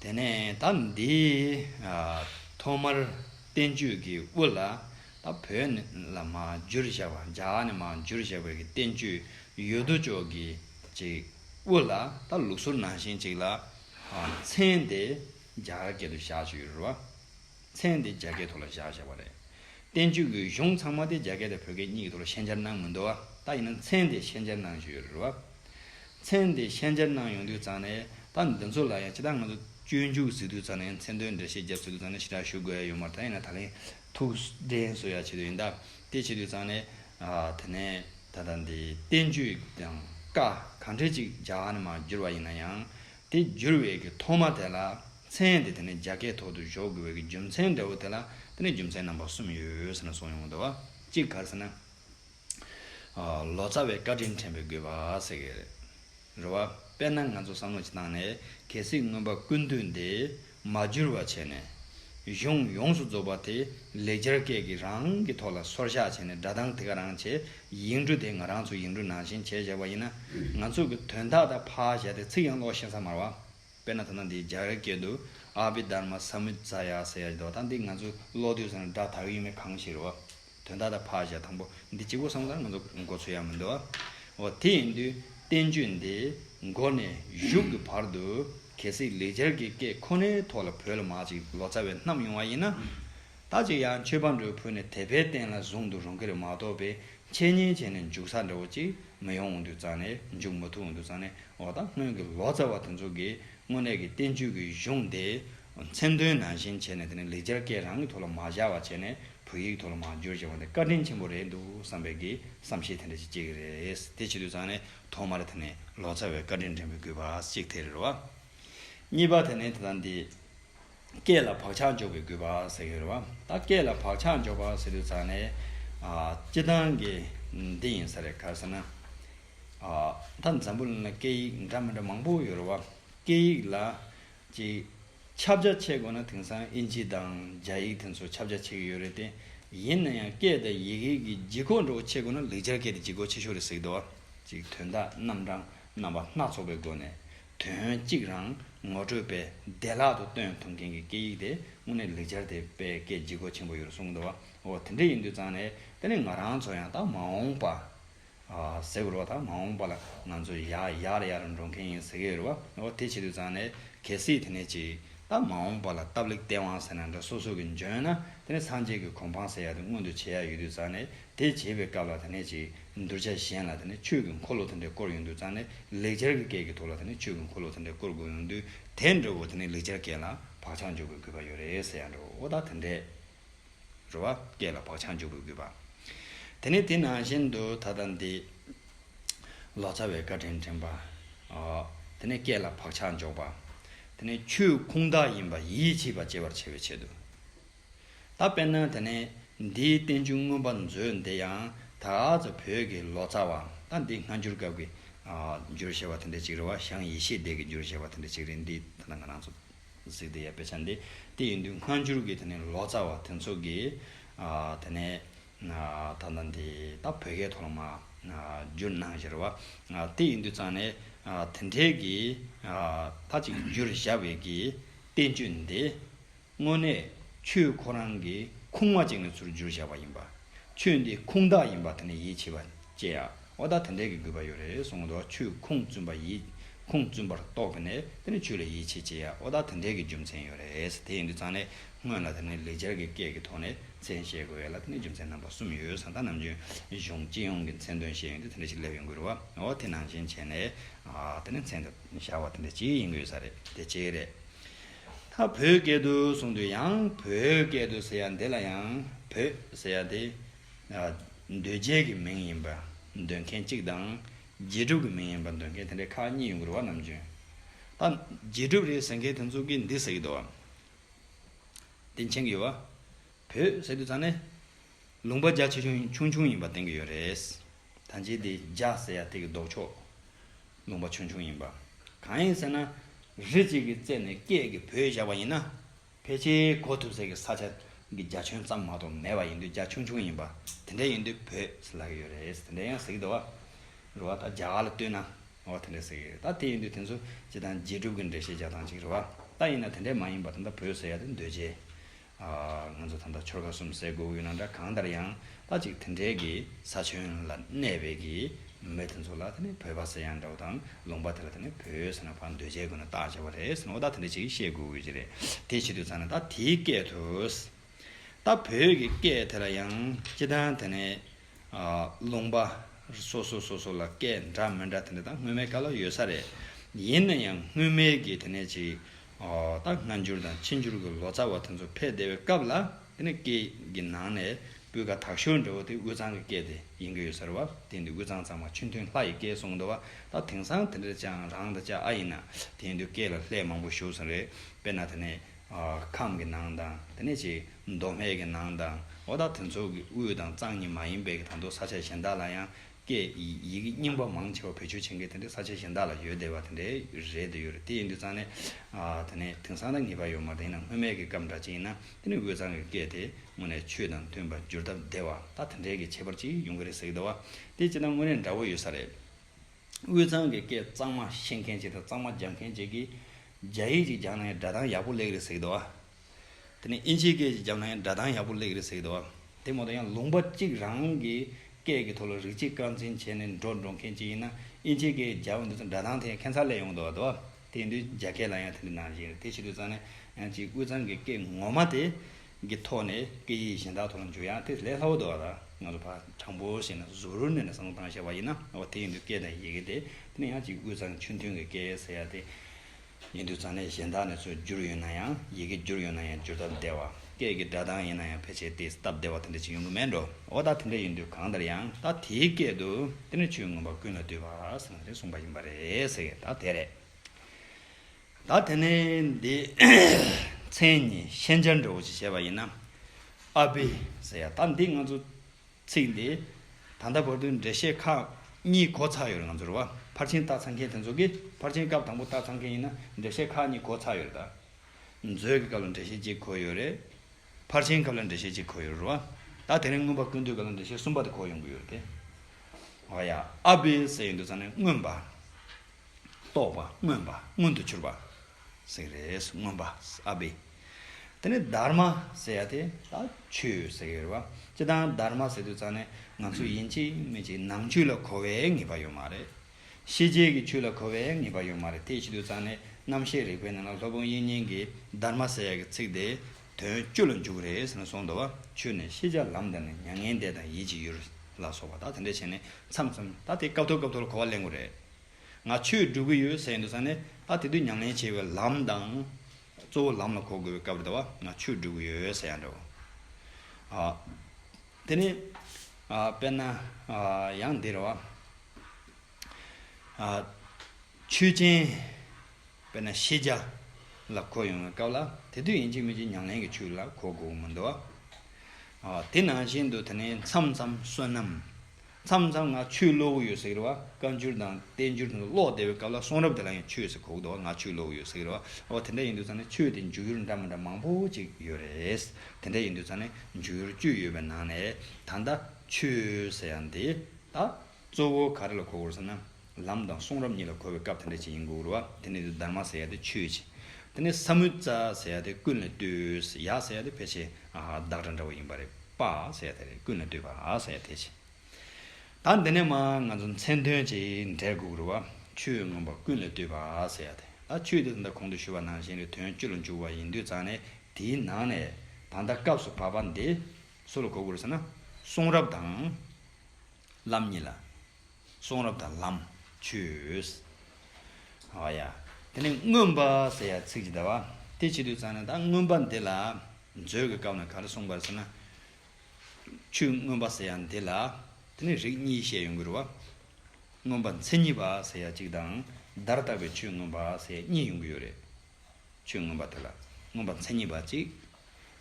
དེ་ནས་ད་འདི་ཐོག་མར་བསྟན་བཅོས་ཀྱི་དབུ་ལ་ད་བོད་ནས་ལ་མ་འཇུར་བཞག་པ་འཇག་ནས་མ་འཇུར་བཞག་པའི་ཀྱི་བསྟན་བཅོས་ཡོད་དོ་ཅོག་གི་ཅིག་དབུ་ལ་ད་ལུགས་སྲོལ་ནང་བཞིན་ཅིག་ལ་མཚན་དེ་འཇག་སྐད་དུ་བཞག་ཅིག་རུ་བ། མཚན་དེ་རྒྱ་སྐད་ཐོག་ལ་བཞག་བཞག་པ་རེད། བསྟན་བཅོས་ཀྱི་གཞུང་ཚང་མ་དེ་རྒྱ་སྐད་དང་བོད་སྐད་གཉིས་ཀྱི་ཐོག་ལ་ཤན་སྦྱར་གནང་མི་འདུག་བ་ད་ཡིན་ན་མཚན་དེ་ཤན་སྦྱར་གནང་བཞིན་ཡོད་རེད་བ། མཚན་དེ་ཤན་སྦྱར་གནང་ཡོང་དུས་ཙང་ནས་ད་འདི་ཚོ་ལ་ཡང་ཅི་ལྟར་ང་ཚོ་སྤྱོད་འཇུག་བཟོས་དུས་ཙང་ནས་མཚན་དོན་འགྲེལ་བཤད་རྒྱབ་བཟོས་དུས་ཙང་ནས་ཞི་དྲག་ཞུ་དགོས་ཡོད་མ་རེད་ད་ཡིན་ན་ད་ལན་ཐུགས་འགྲེལ་བཟོ་ཡག་བྱེད་དུས་ཡིན་སྟབས་དེ་བྱེད་དུས་ཙང་ནས་དེ་ནས་ད་ལྟ་འདི་བསྟན་བཅོས་དང་བཀའ་གང་འཕྲེད་ཅིག་རྒྱ་ནས་མ་བསྒྱུར་བ་ཡིན་ན་ཡང་དེ་བསྒྱུར་བའི་གི་ཐོག་མ་དེ་ལ་མཚན་དེ་དེ་ནས་རྒྱ་སྐད་ཐོག་ཏུ་གཞོག་དགོས་པའི་གི་རྒྱུ་མཚན་འདྲ་བོ་དེ་ལ་དེ་ནས་རྒྱུ་མཚན་རྣམ་པ་གསུམ་ཡོད་ཟེར་ན་སོང་ཡོང་འདོད་བ་གཅིག་ག་ཟེར་ན། ལོ་ཙཱ་བའི་བཀའ་དྲིན་དྲན་པའི་དགོས་པ་ཟེར་གི་རེད། རེད་བ། དཔེར་ན་ང་ཚོ་བསམ་བློ་གཅིག་བཏང་ནས་གལ་སྲིད་མངོན་པ་ཀུན་བཏུས་འདི། མ་འགྱུར་བ་བྱས་ནས། གཞུང་ཡོངས་སུ་རྫོགས་པ་དེ་ལེགས་སྦྱར་སྐད་ཀྱིས་རང་གི་ཐོག་ལ་སོར་བཞག་བྱས་ནས་སྒྲ་གདངས་དེ་ག་རང་བྱས་ཡིག་འབྲུ་དེ་ང་རང་ཚོ་ཡིག་འབྲུ་ནང་བཞིན་བྱས་བཞག་པ་ཡིན་ན། ང་ཚོ་གི་དོན་དག་དག་ཕ་བཞག་སྟེ་ཚིག་ཡང་ཀློག་གཤེན་ས་མར་བ། དཔེར་ན་ད་ལྟ་འདིའི་སྦྱར་སྐད་དུ་ཨ་བྷི་དྷརྨ་སཱ་མུད་ཛཱ་ཡ་ཟེར་ཡ་བཞི་དོ་ད་འདི་ང་ཚོས་ཀློག་དུས་སུ་ནི་སྒྲ་དག་ཡོད་མེད་གང་ཞིག་རེད་བ། དོན་དག་དང་བག་ཆགས་དང་པོ་འདི་གཅིག་པུ་བསམ་ཚར་ང་ཚོ་མགོ་ཚོས་ཡག་མི་འདུག་ཨ། དེ་ཡིན་དུས་བསྟན་བཅོས་འདི་མགོ་ནས་གཞུག་གི་བར་དུ་གལ་སྲིད་ལེགས་སྦྱར་གྱི་སྐད་ཁོ་ནའི་ཐོག་ལ་བོད་ལ་མག་ཅིག་ལོ་ཙཱ་བས་བསྣམས་ཡོང་བ་ཡིན་ན། ད་ཅིག་ཡང་ཆོས་པ་འདྲུ་ཕུལ་ནས་དད་པའི་རྟེན་ལ་བཟུང་དུ་རུང་གི་རེད་མ་གཏོགས་པའི་འཆད་ཉན་བྱས་ནས་འཇུག་ས་འདྲ་བོ་ཅིག་མི་ཡོང་འོང་དུས་ཙང་ནས་འཇུག་མ་ཐུབ་འོང་དུས་ཙང་ནས་འོ་ད་སྔོན་གྱི་ལོ་ཙཱ་བ་དེ་ཚོ་གིས་དངོས་གནས་ཀྱི་བསྟན་བཅོས་ཀྱི་གཞུང་དེ་མཚན་དོན་ནང་བཞིན་བྱས་ནས་དེ་ནས་ལེགས་སྦྱར་སྐད་རང་གི་ཐོག་ལ་མ་བཞག་བ་བྱས་ནས་བོད་ཡིག་ཐོག་ལ་མ་བསྒྱུར་ཅེས་པ་འདི་བཀའ་དྲིན་ཆེན་པོ་རེད་འདུག་བསམ་པའི་གི་བསམ་ཤེས་དེ་འདྲ་ཅིག་སྐྱེ་གི་རེད་དེ་བྱེད་དུས་ཚང་ནས་ཐོག་མར་དེ་ནས་ལོ་ཙཱ་བའི་བཀའ་དྲིན་དྲན་པའི་གུས་པ་གཅིག་དེ་རེད་བ། གཉིས་པ་དེ་ནས་དེ་དང་དེ། སྐད་ལ་བག་ཆགས་འཇོག་པའི་གུས་པ་ཟེར་གི་རེད་བ། ད་སྐད་ལ་བག་ཆགས་འཇོག་པ་ཟེར་དུས་ཚང་ནས། སྤྱི་བཏང་གི་འདི་ཡིན་ས་རེད་ག་ཟེར་ན། ད་འཛམ་བུ་གླིང་ན་སྐད་ཡིག་འདྲ་མི་འདྲ་མང་པོ་ཡོད་རེད་བ། སྐད་ཡིག་ལ་གཅིག། ཁྱབ་བྱ་ཆེ་དགོས་ན་དེང་སང་ཨིན་ཇི་དང་རྒྱ་ཡིག་དེ་ཚོ་ཁྱབ་བྱ་ཆེ་གི་ཡོད་རེད་དེ། ཡིན་ན་ཡང་སྐད་དང་ཡི་གེ་གི་ལྗིད་ཁོག་འགྲོ་བ་ཆེ་དགོས་ན་ལེགས་སྦྱར་སྐད་དེ་ལྗིད་ཁོག་ཆེ་ཤོས་རེད་ཟེར་གི་འདུག་ཅིག་དོན་དག་རྣམ་གྲངས་རྣམ་པ་སྣ་ཚོགས་པའི་སྒོ་ནས་དོན་གཅིག་རང་ངོ་སྤྲོད་པས་བདེ་བླག་ཏུ་སྟོན་ཐུབ་མཁན་གི་སྐད་ཡིག་དེ་དངོས་གནས་ལེགས་སྦྱར་དེ་པས་སྐད་ལྗིད་ཁོག་ཆེན་པོ་ཡོད་རེད་གསུང་གི་འདུག་འོ་དེ་འདྲ་ཡིན་དུས་ཙང་ནས་དེ་ནས་ང་རང་ཚོ་ཡང་དག་མ་འོངས་པ། ཟེར་བའི་རོ་དང་མ་འོངས་པ་ལ་ང་ཚོས་ཡར་ཡར་འགྲོ་མཁན་ཡིན་ཟེར་གྱི་ཡོད་རེད་བ། འོ་དེ་བྱེད་དུས་ཙང་ནས་གལ་སྲིད་དེ་ནས་ཅིག་ད་མ་འོངས་པ་ལ་སྟབས་ལེགས་སྟེས་དབང་ཟེར་ན་འདྲ་སོ་སོ་གིས་འཇོན་ན་དེ་ནས་སངས་རྒྱས་ཀྱི་གོ་འཕང་ཟེར་ཡག་དེ་སྔོན་དུ་བྱེད་ཡག་ཡོད་དུས་ཙང་ནས་དེ་བྱེད་པའི་སྐབས་ལ་དེ་ནས་ཅིག་གདུལ་བྱ་གཞན་ལ་དེ་ནས་ཆོས་ཀྱི་འཁོར་ལོ་དེ་འདྲའི་བསྐོར་ཡོང་དུས་ཙང་ནས་ལེགས་སྦྱར་གྱི་སྐད་ཀྱི་ཐོག་ལ་དེ་ནས་ཆོས་ཀྱི་འཁོར་ལོ་དེ་འདྲའི་བསྐོར་དགོས་ཡོང་དུས་དེ་འདྲ་བོ་དེ་ནས་ལེགས་སྦྱར་སྐད་ལ་བག་ཆགས་འཇོག་དགོས་དགོས་པ་ཡོད་རེད་ཟེར་ཡག་འགྲོ་འོ་ད་དེ་འདྲས། རེ་བ་སྐྱེས་ལ་བག་ཆགས་འཇུག་པའི་གུས་པ། དེ་ནས་དེ་ནང་བཞིན་དུ་ད་ལྟ་འདི། ལོ་ཙཱ་བའི་བཀའ་དྲིན་དྲན་པ། དེ་ནས་སྐྱེས་ལ་བག་ཆགས་འཇོག་པ། དེ་ནས་ཆོས་ཁུངས་དག་ཡིན་པ་ཡིད་ཆེས་པ་སྐྱེ་བར་བྱ་བའི་ཆེད་དུ། ད་དཔེར་ན་དེ་ནས་འདིའི་བསྟན་བཅོས་མངོན་པར་མཛོད་འདི་ཡང་ད་གཟོད་བོད་ཀྱི་ལོ་ཙཱ་བ་ད་འདི་སྔ་འགྱུར་སྐབས་ཀྱི་འགྱུར་ཞེས་པ་དེ་འདྲའི་ཅིག་རེ་བ་ཞང་ཡེ་ཤེས་སྡེ་ཀྱི་འགྱུར་ཞེས་པ་དེ་འདྲའི་ཅིག་རེད་འདི་ད་ལྟ་ང་རང་ཚོ། གཟིགས་དེ་ཡ་དཔེ་ཆ་འདི་དེ་ཡིན་དུས་སྔ་འགྱུར་གྱི་དེ་ནས་ལོ་ཙཱ་བ་དེ་ཚོ་གིས་དེ་ནས་ད་ལྟ་འདི་ད་བོད་སྐད་ཐོག་ལ་མ་བསྒྱུར་གནང་ཞེས་རེད་བ། དེ་ཡིན་དུས་ཙང་ནས་དེ་འཕྲལ་གྱི་ད་ཅིག་བསྒྱུར་བཞག་བས་ཀྱི་བསྟན་བཅོས་འདི་དངོས་གནས་ཆོས་ཁོ་རང་གི་ཁུངས་མ་བཅད་ནས་ཚུར་བསྒྱུར་བཞག་བ་ཡིན་པ། ཆོས་འདི་ཁུངས་དག་ཡིན་པ་དེ་ནས་ཡིད་ཆེས་པ་བསྐྱེད། ཨོ་ད་དེ་འདྲས་ཀྱི་དགོས་པ་ཡོད་རེད་གསུང་འདུག་ཆུས་ཁུངས་བཙུན་པ་ཡིས་ཁུངས་བཙུན་པར་རྟོགས་པ་ནས་དེ་ནི་ཆུས་ལ་ཡིད་ཆེས་བྱེད་ཡ་ཨོ་ད་དེ་འདྲས་ཀྱི་རྒྱུ་མཚན་ཡོད་རེད་དེ་ཡིན་དུས་ཙང་ནས་སྔོན་ལ་དེ་ནི་ལེགས་སྦྱར་གྱི་སྐད་ཀྱི་ཐོག་ནས་མཚན་བཤད་དགོས་ཡ་ལ་དེ་ནི་རྒྱུ་མཚན་རྣམ་པ་གསུམ་ཡོད་ས་ད་ནམ་ཆོས་གཞུང་སྤྱི་ཡོངས་ཀྱི་མཚན་དོན་བཤད་ཡོན་དུས་དེ་འདྲས་ཞིག་སླེབས་ཡོང་དགོས་རུ་བ་དེ་ནང་བཞིན་བྱས་ནས་དེ་ནི་མཚན་དུ་བཞག་པ་དེ་འདྲས་ཅིག་ཡིན་དགོས་ས་རེད་དེ་གཅིག་རེད། ད་བོད་སྐད་དུ་གསུང་དུས་ཡང་བོད་སྐད་དུ་ཟེར་ཡ་འདི་ལ་ཡང་བོད་ཟེར་ཡ་དེ། འདོད་རྒྱལ་གྱི་མིང་ཡིན་པ་འདོད་མཁན་གཅིག་དང། རྗེས་གྲུབ་ཀྱི་མིང་ཡིན་པ་འདོད་མཁན་དེ་འདྲའི་ཁག་གཉིས་ཡོད་འགུར་བ་ནམ་བྱུང། ད་རྗེས་གྲུབ་རེད་ཟེར་མཁན་དེ་ཚོ་གིས་འདི་ཟེར་གྱི་འདུག་བམ། དེ་མཁྱེན་གྱི་ཡོད་བ། བོད་ཟེར་དུས་ཚང་ནས། ལུང་པ་རྒྱ་ཆེ་ཆུང་ཆུང་ཡིན་པ་བསྟན་གྱི་ཡོད་རེད། ད་རྗེས་དེ་རྒྱ་ཟེར་ཡ་དེ་གི་ལྡོག་ཕྱོགས། ལུང་པ་ཆུང་ཆུང་ཡིན་པ། གང་ཡིན་ཟེར་ན། རི་གཅིག་གི་རྩེ་ནས་སྐད་ཀྱི་བོད་བཞག་པ་ཡིན་ན། ཕལ་ཆེར་གོ་ཐུབ་ཟེར་གི་ས་ཆ་གི་རྒྱ་ཁྱོན་ཙམ་མ་གཏོགས་མེད་པ་ཡིན་དུས་རྒྱ་ཆུང་ཆུང་ཡིན་པ་དེ་འདྲ་ཡིན་དུས་བོད་ཟེར་ལ་གི་ཡོད་རེད་དེ་འདྲ་ཡང་ཟེར་གི་འདུག་བ་རེད་བ་ད་རྒྱ་གར་ལ་ལྟོས་ན་བ་དེ་འདྲ་ཟེར་གི་རེད་ད་དེ་ཡིན་དུས་དེ་ཚོ་སྤྱི་དང་རྗེས་གྲུབ་གི་འབྲེལ་བཤད་རྒྱག་སྟངས་གཅིག་རེད་བ་ད་ཡིན་ན་དེ་འདྲ་མ་ཡིན་པ་ད་ད་བོད་ཟེར་ཡ་དེ་འདོད་ཆེ་ཨ། ང་ཚོ་ད་ད་ཆོལ་ཁ་གསུམ་ཟེར་དགོས་ཀྱི་ཡོད་ན་འདྲ་གང་ལྟར་ཡང་ལྷ་གཅིག་དེ་འདྲའི་གི་ས་ཆོན་ལ་གནས་པའི་གི་མི་དེ་ཚོ་ལ་དེ་ནི་བོད་པ་ཟེར་ཡང་འདྲ་བོ་དང་ལུང་པ་དེ་ལ་དེ་ནི་བོད་ཡོད་ཟེར་ན་བར་འདོད་བྱས་དགོས་ན་བདག་བྱས་པ་རེད་ཟེར་ན་བ་ད་དེ་འདྲ་ཅིག་ཤེས་དགོས་དགོས་ཀྱི་རེད་དེ་བྱེད་དུས་ཚང་ན་ད་དེའི་སྐད་དུ། ད་བོད་ཀྱི་སྐད་དེ་ལ་ཡང་སྤྱི་དང་དེ་ནི་ལུང་པ་སོ་སོ་སོ་སོ་ལ་སྐད་འདྲ་མི་འདྲ་དེ་འདྲ་དང་སྔོན་མའི་སྐད་ལ་ཡོད་ས་རེད་ཡིན་ན་ཡང་སྔོན་མའི་གི་དེ་ནི་ཅིག་ད་སྔ་འགྱུར་དང་ཕྱི་འགྱུར་གི་ལོ་ཙཱ་བ་དེ་ཚོ་ཕེབས་བསྡད་པའི་སྐབས་ལ། དེ་ནི་སྐད་ཀྱི་ནང་ནས་སྤུས་ཀ་དག་ཤོས་འདྲ་བོ་དེ་དབུས་གཙང་གི་སྐད་དེ་ཡིན་གྱི་ཡོད་ཟེར་བ་དེ་འདི་དབུས་གཙང་ཚང་མ་ཆུ་འཐུང་ལྷ་ཡི་སྐད་གསུང་འདུག་བ་ད་དེང་སང་དེ་འདྲ་ཅང་རང་ད་ཅག་ཨ་ཡིན་ན་དེ་འདུག་སྐད་ལ་ལྷད་མང་པོ་ཞུགས་སོང་རེད་དཔེར་ན་དེ་ནས་ཁམས་ཀྱི་ནང་དང་དེ་ནས་ཅིག་མདོ་སྨད་ཀྱི་ནང་དང་འོ་ད་དེ་ཚོ་གི་དབུས་དང་གཙང་གཉིས་མ་ཡིན་པའི་གི་ད་འདུག་ས་ཆ་གཞན་དག་ལ་ཡང་སྐད་ཡིག་གི་རྙིང་པ་མང་ཆེ་བ་བོད་ཆོས་ཆེན་ཁའི་དེ་འདྲའི་ས་ཆ་གཞན་དག་ལ་ཡོད་བསྡད་པ་དེ་འདྲའི་རེད་འདོད་ཡོད་རེད་དེ་ཡིན་དུས་ཙང་ནས་དེ་ནས་དེང་སང་ད་ངེས་པར་ཡོད་མ་རེད་ཡིན་ནམ་སྔོན་མེད་ཀྱི་སྐབས་འདྲ་ཅིག་ཡིན་ན་དེ་ནས་འོས་ཚང་གི་སྐད་དེ་དངོས་ནས་ཆོས་དང་མཐུན་པར་འགྱུར་སྟབས་འདས་བ་ད་དེ་འདྲའི་གི་ཁྱད་པར་ཅིག་ཡོང་གི་རེད་ཟེར་གི་འདུག་བ་དེ་ཅི་ད་དངོས་གནས་འདྲ་བོ་ཡོད་ས་རེད། འོས་ཚང་གི་སྐད་གཙང་མ་བཤད་མཁན་ཅིག་དང་གཙང་མ་སྦྱང་མཁན་ཅིག་གིས་རྒྱ་ཡིག་ཅིག་སྦྱང་ན་ཡང་སྒྲ་གདངས་ཡག་པོ་ལེགས་རེད་ཟེར་གི་འདུག་བ། དེ་ནས་ཨིན་ཇིའི་སྐད་ཀྱི་རྒྱབ་ན་ཡང་སྒྲ་གདངས་ཡག་པོ་ལེགས་རེད་ཟེར་གི་འདུག་ཨ། དེ་མ་གཏོགས་ཡང་ལུང་པ་གཅིག་རང་གི་སྐད་ཀྱི་ཐོག་ལ་རིགས་གཅིག་རྐང་འཛིན་བྱས་ནས་འགྲོ་འགྲོ་མཁན་གཅིག་ཡིན་ན་ཨིན་ཇིའི་སྐད་ཀྱི་རྒྱབ་འདི་ཚོ་སྒྲ་གདངས་དེ་ཡང་ཁྱད་མཚར་ལེགས་ཡོང་གི་འདུག་ཨ། དེ་ཡིན་དུས་རྒྱ་སྐད་ལ་ཡང་དེ་འདྲའི་ནང་བཞིན་རེད་དེ་ཕྱི་དུས་ཚང་ནས་ཡང་གཅིག་དབུས་གཙང་གི་སྐད་ངོ་མ་དེ་གི་ཐོག་ནས་སྐད་ཡིག་གཞན་དག་ཐོག་ལ་འཇུག་ཡང་དེ་ལས་སླ་བོ་འདུག་ཨ། ང་ཚོ་ཕ་དྲང་པོ་བཤད་ན་གཟུ་རུར་གནས་ནས་བསམ་བློ་བཏང་བཤད་པ་ཡིན་ན་ཨོ་དེ་ཡིན་དུས་སྐད་དང་ཡི་གེ་དེ་དེ་ནས་ཡང་གཅིག་དབུས་གཙང་ཆུ་མཐུན་གྱི་སྐད་ཟེར་ཡ་དེ། ཉེ་དུས་ཚང་ལས་གཞན་དག་ནས་སྲོལ་བསྒྱུར་ཡོད་ན་ཡང་ཡི་གེ་བསྒྱུར་ཡོད་ན་ཡང་བསྒྱུར་སྟབས་བདེ་བ། སྐད་ཀྱི་སྒྲ་གདངས་ཡིན་ན་ཡང་ཕལ་ཆེར་དེས་སྟབས་བདེ་བ་དེ་འདྲ་ཅིག་ཡོང་གི་མེད་འགྲོ་འོ་ད་དེ་འདྲ་ཡིན་དུས་གང་ལྟར་ཡང་ད་དེའི་སྐད་དུ་དེ་ནས་ཆོས་མངོན་པ་ཀུན་ལ་བསྡུས་པ་ཟེར་ནས་གསུངས་པ་ཡིན་པ་རེད་ད་དེ་རེད། ད་དེ་ནས་འདི་མཚན་ཉིད་ཤན་སྦྱར་འདྲ་བོ་ཅིག་བྱས་པ་ཡིན་ན་ཨ་བི་ཟེར་ཡ་ད་འདི་ང་ཚོ། ཚིག་འདི། ད་ལྟ་བར་དུ་འགྲེལ་བཤད་ཁག་གཉིས་གོ་ཚར་ཡོད་ང་ཚོར་བ་ཕར་ཕྱིན་རྟགས་ཚང་མཁན་དེ་ཚོ་གིས་ཕར་ཕྱིན་སྐབས་དང་པོ་རྟགས་ཚང་མཁན་ཡིན་ན་འགྲེལ་བཤད་ཁག་གཉིས་གོ་ཚར་ཡོད་རེད་ད། མཛོད་ཀྱི་སྐབས་ལ་འགྲེལ་བཤད་གཅིག་གོ་ཡོད་རེད། ཕར་ཕྱིན་སྐབས་ལ་འགྲེལ་བཤད་གཅིག་གོ་ཡོད་རེད་བ། ད་དེ་རིང་མངོན་པ་ཀུན་བཏུས་སྐབས་ལ་འགྲེལ་བཤད་གསུམ་པ་དེ་གོ་ཡོང་གི་ཡོད་རེད་དེ། བ་ཡ། ཨ་བྷི་ཟེར་ཡོད་འདུག་ཚང་ནི་མངོན་པ། རྟོགས་པ། མངོན་པ། མངོན་དུ་གྱུར་པ། ཟེར་གི་རེད། མངོན་པ། ཨ་བྷི། དེ་ནས་སྡར་མ་ཟེར་ཡ་དེ་ད་ཆོས་ཟེར་གི་རེད་བ། སྤྱི་དང་སྡར་མ་ཟེར་དུས་ཙང་ནས་ང་ཚོས་ཡིན་གཅིག་མིན་གཅིག་ནང་ཆོས་ལ་གོ་བའི་ངེས་པ་ཡོད་མ་རེད། ཤེས་བྱེད་ཀྱི་ཆོས་ལ་གོ་བའི་ངེས་པ་ཡོད་མ་རེད་དེ་ཤེས་དུས་ཙང་ནས་རྣམ་ཤེས་རིག་པའི་ནང་ལ་ལྷོ་བོན་དབྱིན་གཉིས་ཀྱི་སྡར་མ་ཟེར་ཡ་གི་ཚིག་དེ་དོན་སྤྱོད་ལ་འཇུག་གི་རེད་ཟེར་ནས་སོང་འདུག་བ། ཆོས་ནི་ཤེས་བྱ་ལམ་དང་ནི་མྱ་ངན་འདས་དང་ཡིད་ཀྱི་ཡུལ་ལ་སོགས་པ་ད་དེ་འདྲ་བྱས་ནས་མཚམས་མཚམས་ད་དེ་སྐབས་ཐོག་སྐབས་ཐོག་ལ་གོ་བ་ལེན་དགོས་རེད། ང་ཆོས་སྒྲུབ་གི་ཡོད་ཟེར་ཡིན་དུས་ཙང་ནས་ད་དེ་དུས་ཉམས་ལེན་བྱེད་པའི་ལམ་དང། གཙོ་བོ་ལམ་ལ་གོ་དགོས་པའི་སྐབས་རེད་བ་ང་ཆོས་སྒྲུབ་གི་ཡོད་ཟེར་ཡང་འདྲ་བོ། དེ་ནི། དཔེར་ན། ཡང་འདིར་བ། ཆོས་ཅན། དཔེར་ན་ཤེས་བྱ། ལ་གོ་ཡོང་བའི་སྐབས་ལ་དེ་དུས་ཡིན་གཅིག་མིན་གཅིག་ཉམས་ལེན་གྱི་ཆོས་ལ་གོ་དགོས་ཀྱི་མི་འདུག་བ། དེ་ནང་བཞིན་དུ་དེ་ནི་མཚམས་མཚམས་བསོད་ནམས། མཚམས་མཚམས་ང་ཆུ་གློག་གུ་ཡོད་ཟེར་གི་རེད་བ་བཀའ་འགྱུར་དང་བསྟན་འགྱུར་དེ་ཚོ་ཀློག་བསྡད་པའི་སྐབས་ལ་གསུང་རབ་དེ་ལ་ཡང་ཆུ་ཡོད་ཟེར་གོ་གི་འདུག་བ་ང་ཆུ་གློག་གུ་ཡོད་ཟེར་གི་རེད་བ་འོ་དེ་འདྲ་ཡིན་འདུག་ཚ་ནས་ཆུ་དེ་འཇུག་ཡུལ་འདྲ་མི་འདྲ་མང་པོ་ཅིག་ཡོད་རེད་དེ་འདྲ་ཡིན་འདུག་ཚ་ནས་འཇུག་ཡུལ་བཅུ་ཡོད་པའི་ནང་ནས་ད་ལྟ་ཆུ་ཟེར་ཡང་དེ་དག་གཙོ་བོ་ག་རེ་ལ་གོ་དགོས་རེད་ཟེར་ན། ལམ་དང་གསུང་རབ་གཉིས་ལ་གོ་བའི་སྐབས་དེ་འདྲ་ཅིག་ཡིན་དགོས་རོ། དེ་ནས་དུ་དར་མ་ཟེར་ཡ་དེ་ཆོས་ཅན། དེ་ནས་ས་མུ་ཙ་ཟེར་ཡ་དེ་ཀུན་ལ་ལྟོས། ཡ་ཟེར་ཡ་དེ་ཕལ་ཆེར་བདག་སྒྲ་འདྲ་བོ་ཡིན་པ་རེད། པ་ཟེར་ཡ་དེ་རེད་ཀུན་ལ་ལྟོས་པ་ཟེར་ཡ་དེ་ཅན། ད་འདི་ནས་མ་ང་ཚོ་མཚན་དོན་ཅིག་འགྲེལ་དགོས་རོ། ཆོས་མངོན་པ་ཀུན་ལ་ལྟོས་པ་ཟེར་ཡ་དེ། ད་ཆོས་དེ་ཟླ་གོང་དུ་ཞུས་པ་ནང་བཞིན་རེད་དོན་སྤྱི་ལ་འཇུག་པ་ཡིན་དུས་ཙང་ནས་དེའི་ནང་ནས་ད་ལྟ་སྐབས་སུ་བབ་པ་འདི་སུ་ལ་གོ་དགོས་རེད་ཟེར་ན། གསུང་རབ་དང། ལམ་གཉིས་ལ། གསུང་རབ་དང་ལམ་ཆོས། ཨཱ་ཡ། དེ་ནས་མངོན་པ་ཟེར་ཡ་ཚིག་ཅི་ལྟ་བ། དེ་ཕྱི་དུས་གཙང་ན་ད་མངོན་པ་འདི་ལ། མཛོད་ཀྱི་སྐབས་ན་ག་རེ་གསུངས་པར་ཟེར་ན། ཆོས་མངོན་པ་ཟེར་ཡ་འདི་ལ། དེ་ནས་རིགས་གཉིས་བཤད་ཡོང་གི་རུ་བ། མངོན་པ་མཚན་ཉིད་པ་ཟེར་ཡ་གཅིག་དང། བརྡར་བཏགས་པའི་ཆོས་མངོན་པ་ཟེར་ཡ་གཉིས་ཡོང་གི་ཡོད་རེད། ཆོས་མངོན་པ་དེ་ལ་མངོན་པ་མཚན་ཉིད་པ་གཅིག།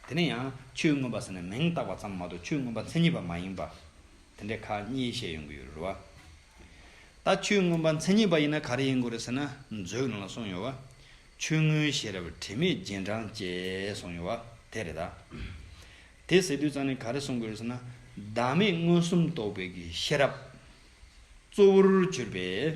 དེ་ནས་ཡང་ཆོས་མངོན་པ་ཟེར་ནས་མིང་བཏགས་པ་ཙམ་མ་གཏོགས་ཆོས་མངོན་པ་མཚན་ཉིད་པ་མ་ཡིན་པ། དེ་འདྲའི་ཁག་གཉིས་བཤད་ཡོང་གི་ཡོད་རེད་བ། ད་ཆོས་མངོན་པ་མཚན་ཉིད་པ་ཡིན་ན་ག་རེ་ཡིན་དགོས་རེད་ཟེར་ན་མཛོད་ནང་ལ་གསུངས་ཡོད་བ། ཆོས་མངོན་ཤེས་རབ་དྲི་མེད་རྗེས་འབྲང་བཅས་གསུངས་ཡོད་བ་དེ་རེད་ད། དེ་ཟེར་དུས་ཙང་ནས་ག་རེ་གསུངས་དགོས་རེད་ཟེར་ན། བདག་མེད་མངོན་སུམ་རྟོགས་པའི་གི་ཤེས་རབ། གཙོ་བོར་གྱུར་པའི།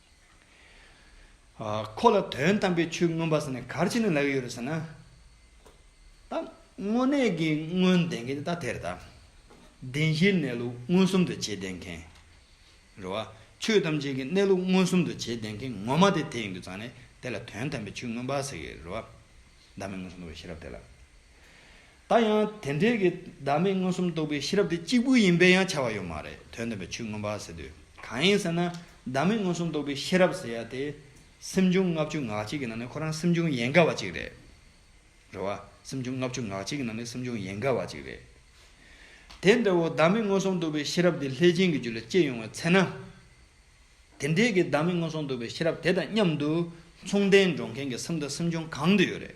ཁོ་ལ་དོན་དམ་པའི་ཆོས་མངོན་པ་ཟེར་ནས་གར་བྱེད་ནི་ལབ་ཡོད་རེད་ཟེར་ན། ད་དངོས་གནས་ཀྱི་དངོས་བདེན་མཁན་ནི་ད་དེ་རེད་ད། བདེན་བཞིའི་གནས་ལུགས་མངོན་སུམ་དུ་བྱེད་བདེན་མཁན། རེད་བ། ཆོས་ཐམས་ཅད་ཀྱི་གནས་ལུགས་མངོན་སུམ་དུ་བྱེད་བདེན་མཁན་ངོ་མ་དེ་དེ་ཡིན་དུ་ཙང་ནས་དེ་ལ་དོན་དམ་པའི་ཆོས་མངོན་པ་ཟེར་ཡོད་རེད་བ། བདག་མེད་མངོན་སུམ་དུ་བྱེད་རབས་དེ་ལ། ད་ཡང་དེ་འབྲེལ་གྱི་བདག་མེད་མངོན་སུམ་རྟོགས་པའི་ཤེས་རབ་དེ་གཅིག་པུ་ཡིན་པའི་ཡང་ཆ་བ་ཡོད་མ་རེད་དོན་སྟོན་པའི་ཆོས་མངོན་པ་ཟེར་དུས་གང་ཡིན་ཟེར་ན་བདག་མེད་མངོན་སུམ་རྟོགས་པའི་ཤེས་རབ་ཟེར་ཡ་དེ་སེམས་བྱུང་ལྔ་བཅུ་ངག་གཅིག་གི་ནང་ནས་ཁོ་རང་སེམས་བྱུང་ཡན་ག་བ་གཅིག་རེད། རེད་བ། སེམས་བྱུང་ལྔ་བཅུ་ངག་གཅིག་གི་ནང་ནས་སེམས་བྱུང་ཡན་ག་བ་གཅིག་རེད། དེ་འདྲ་བོ་བདག་མེད་མངོན་སུམ་རྟོགས་པའི་ཤེས་རབ་དེ་ལྷས་བྱིན་གྱི་རྒྱུ་ལ་སྐྱེས་ཡོང་བའི་ཚེ་ན། དེ་འབྲེལ་གྱི་བདག་མེད་མངོན་སུམ་རྟོགས་པའི་ཤེས་རབ་དེ་དང་མཉམ་དུ་མཚུངས་ལྡན་འགྲོགས་མཁན་གྱི་སེམས་དང་སེམས་བྱུང་གང་དུ་ཡོད་རེད།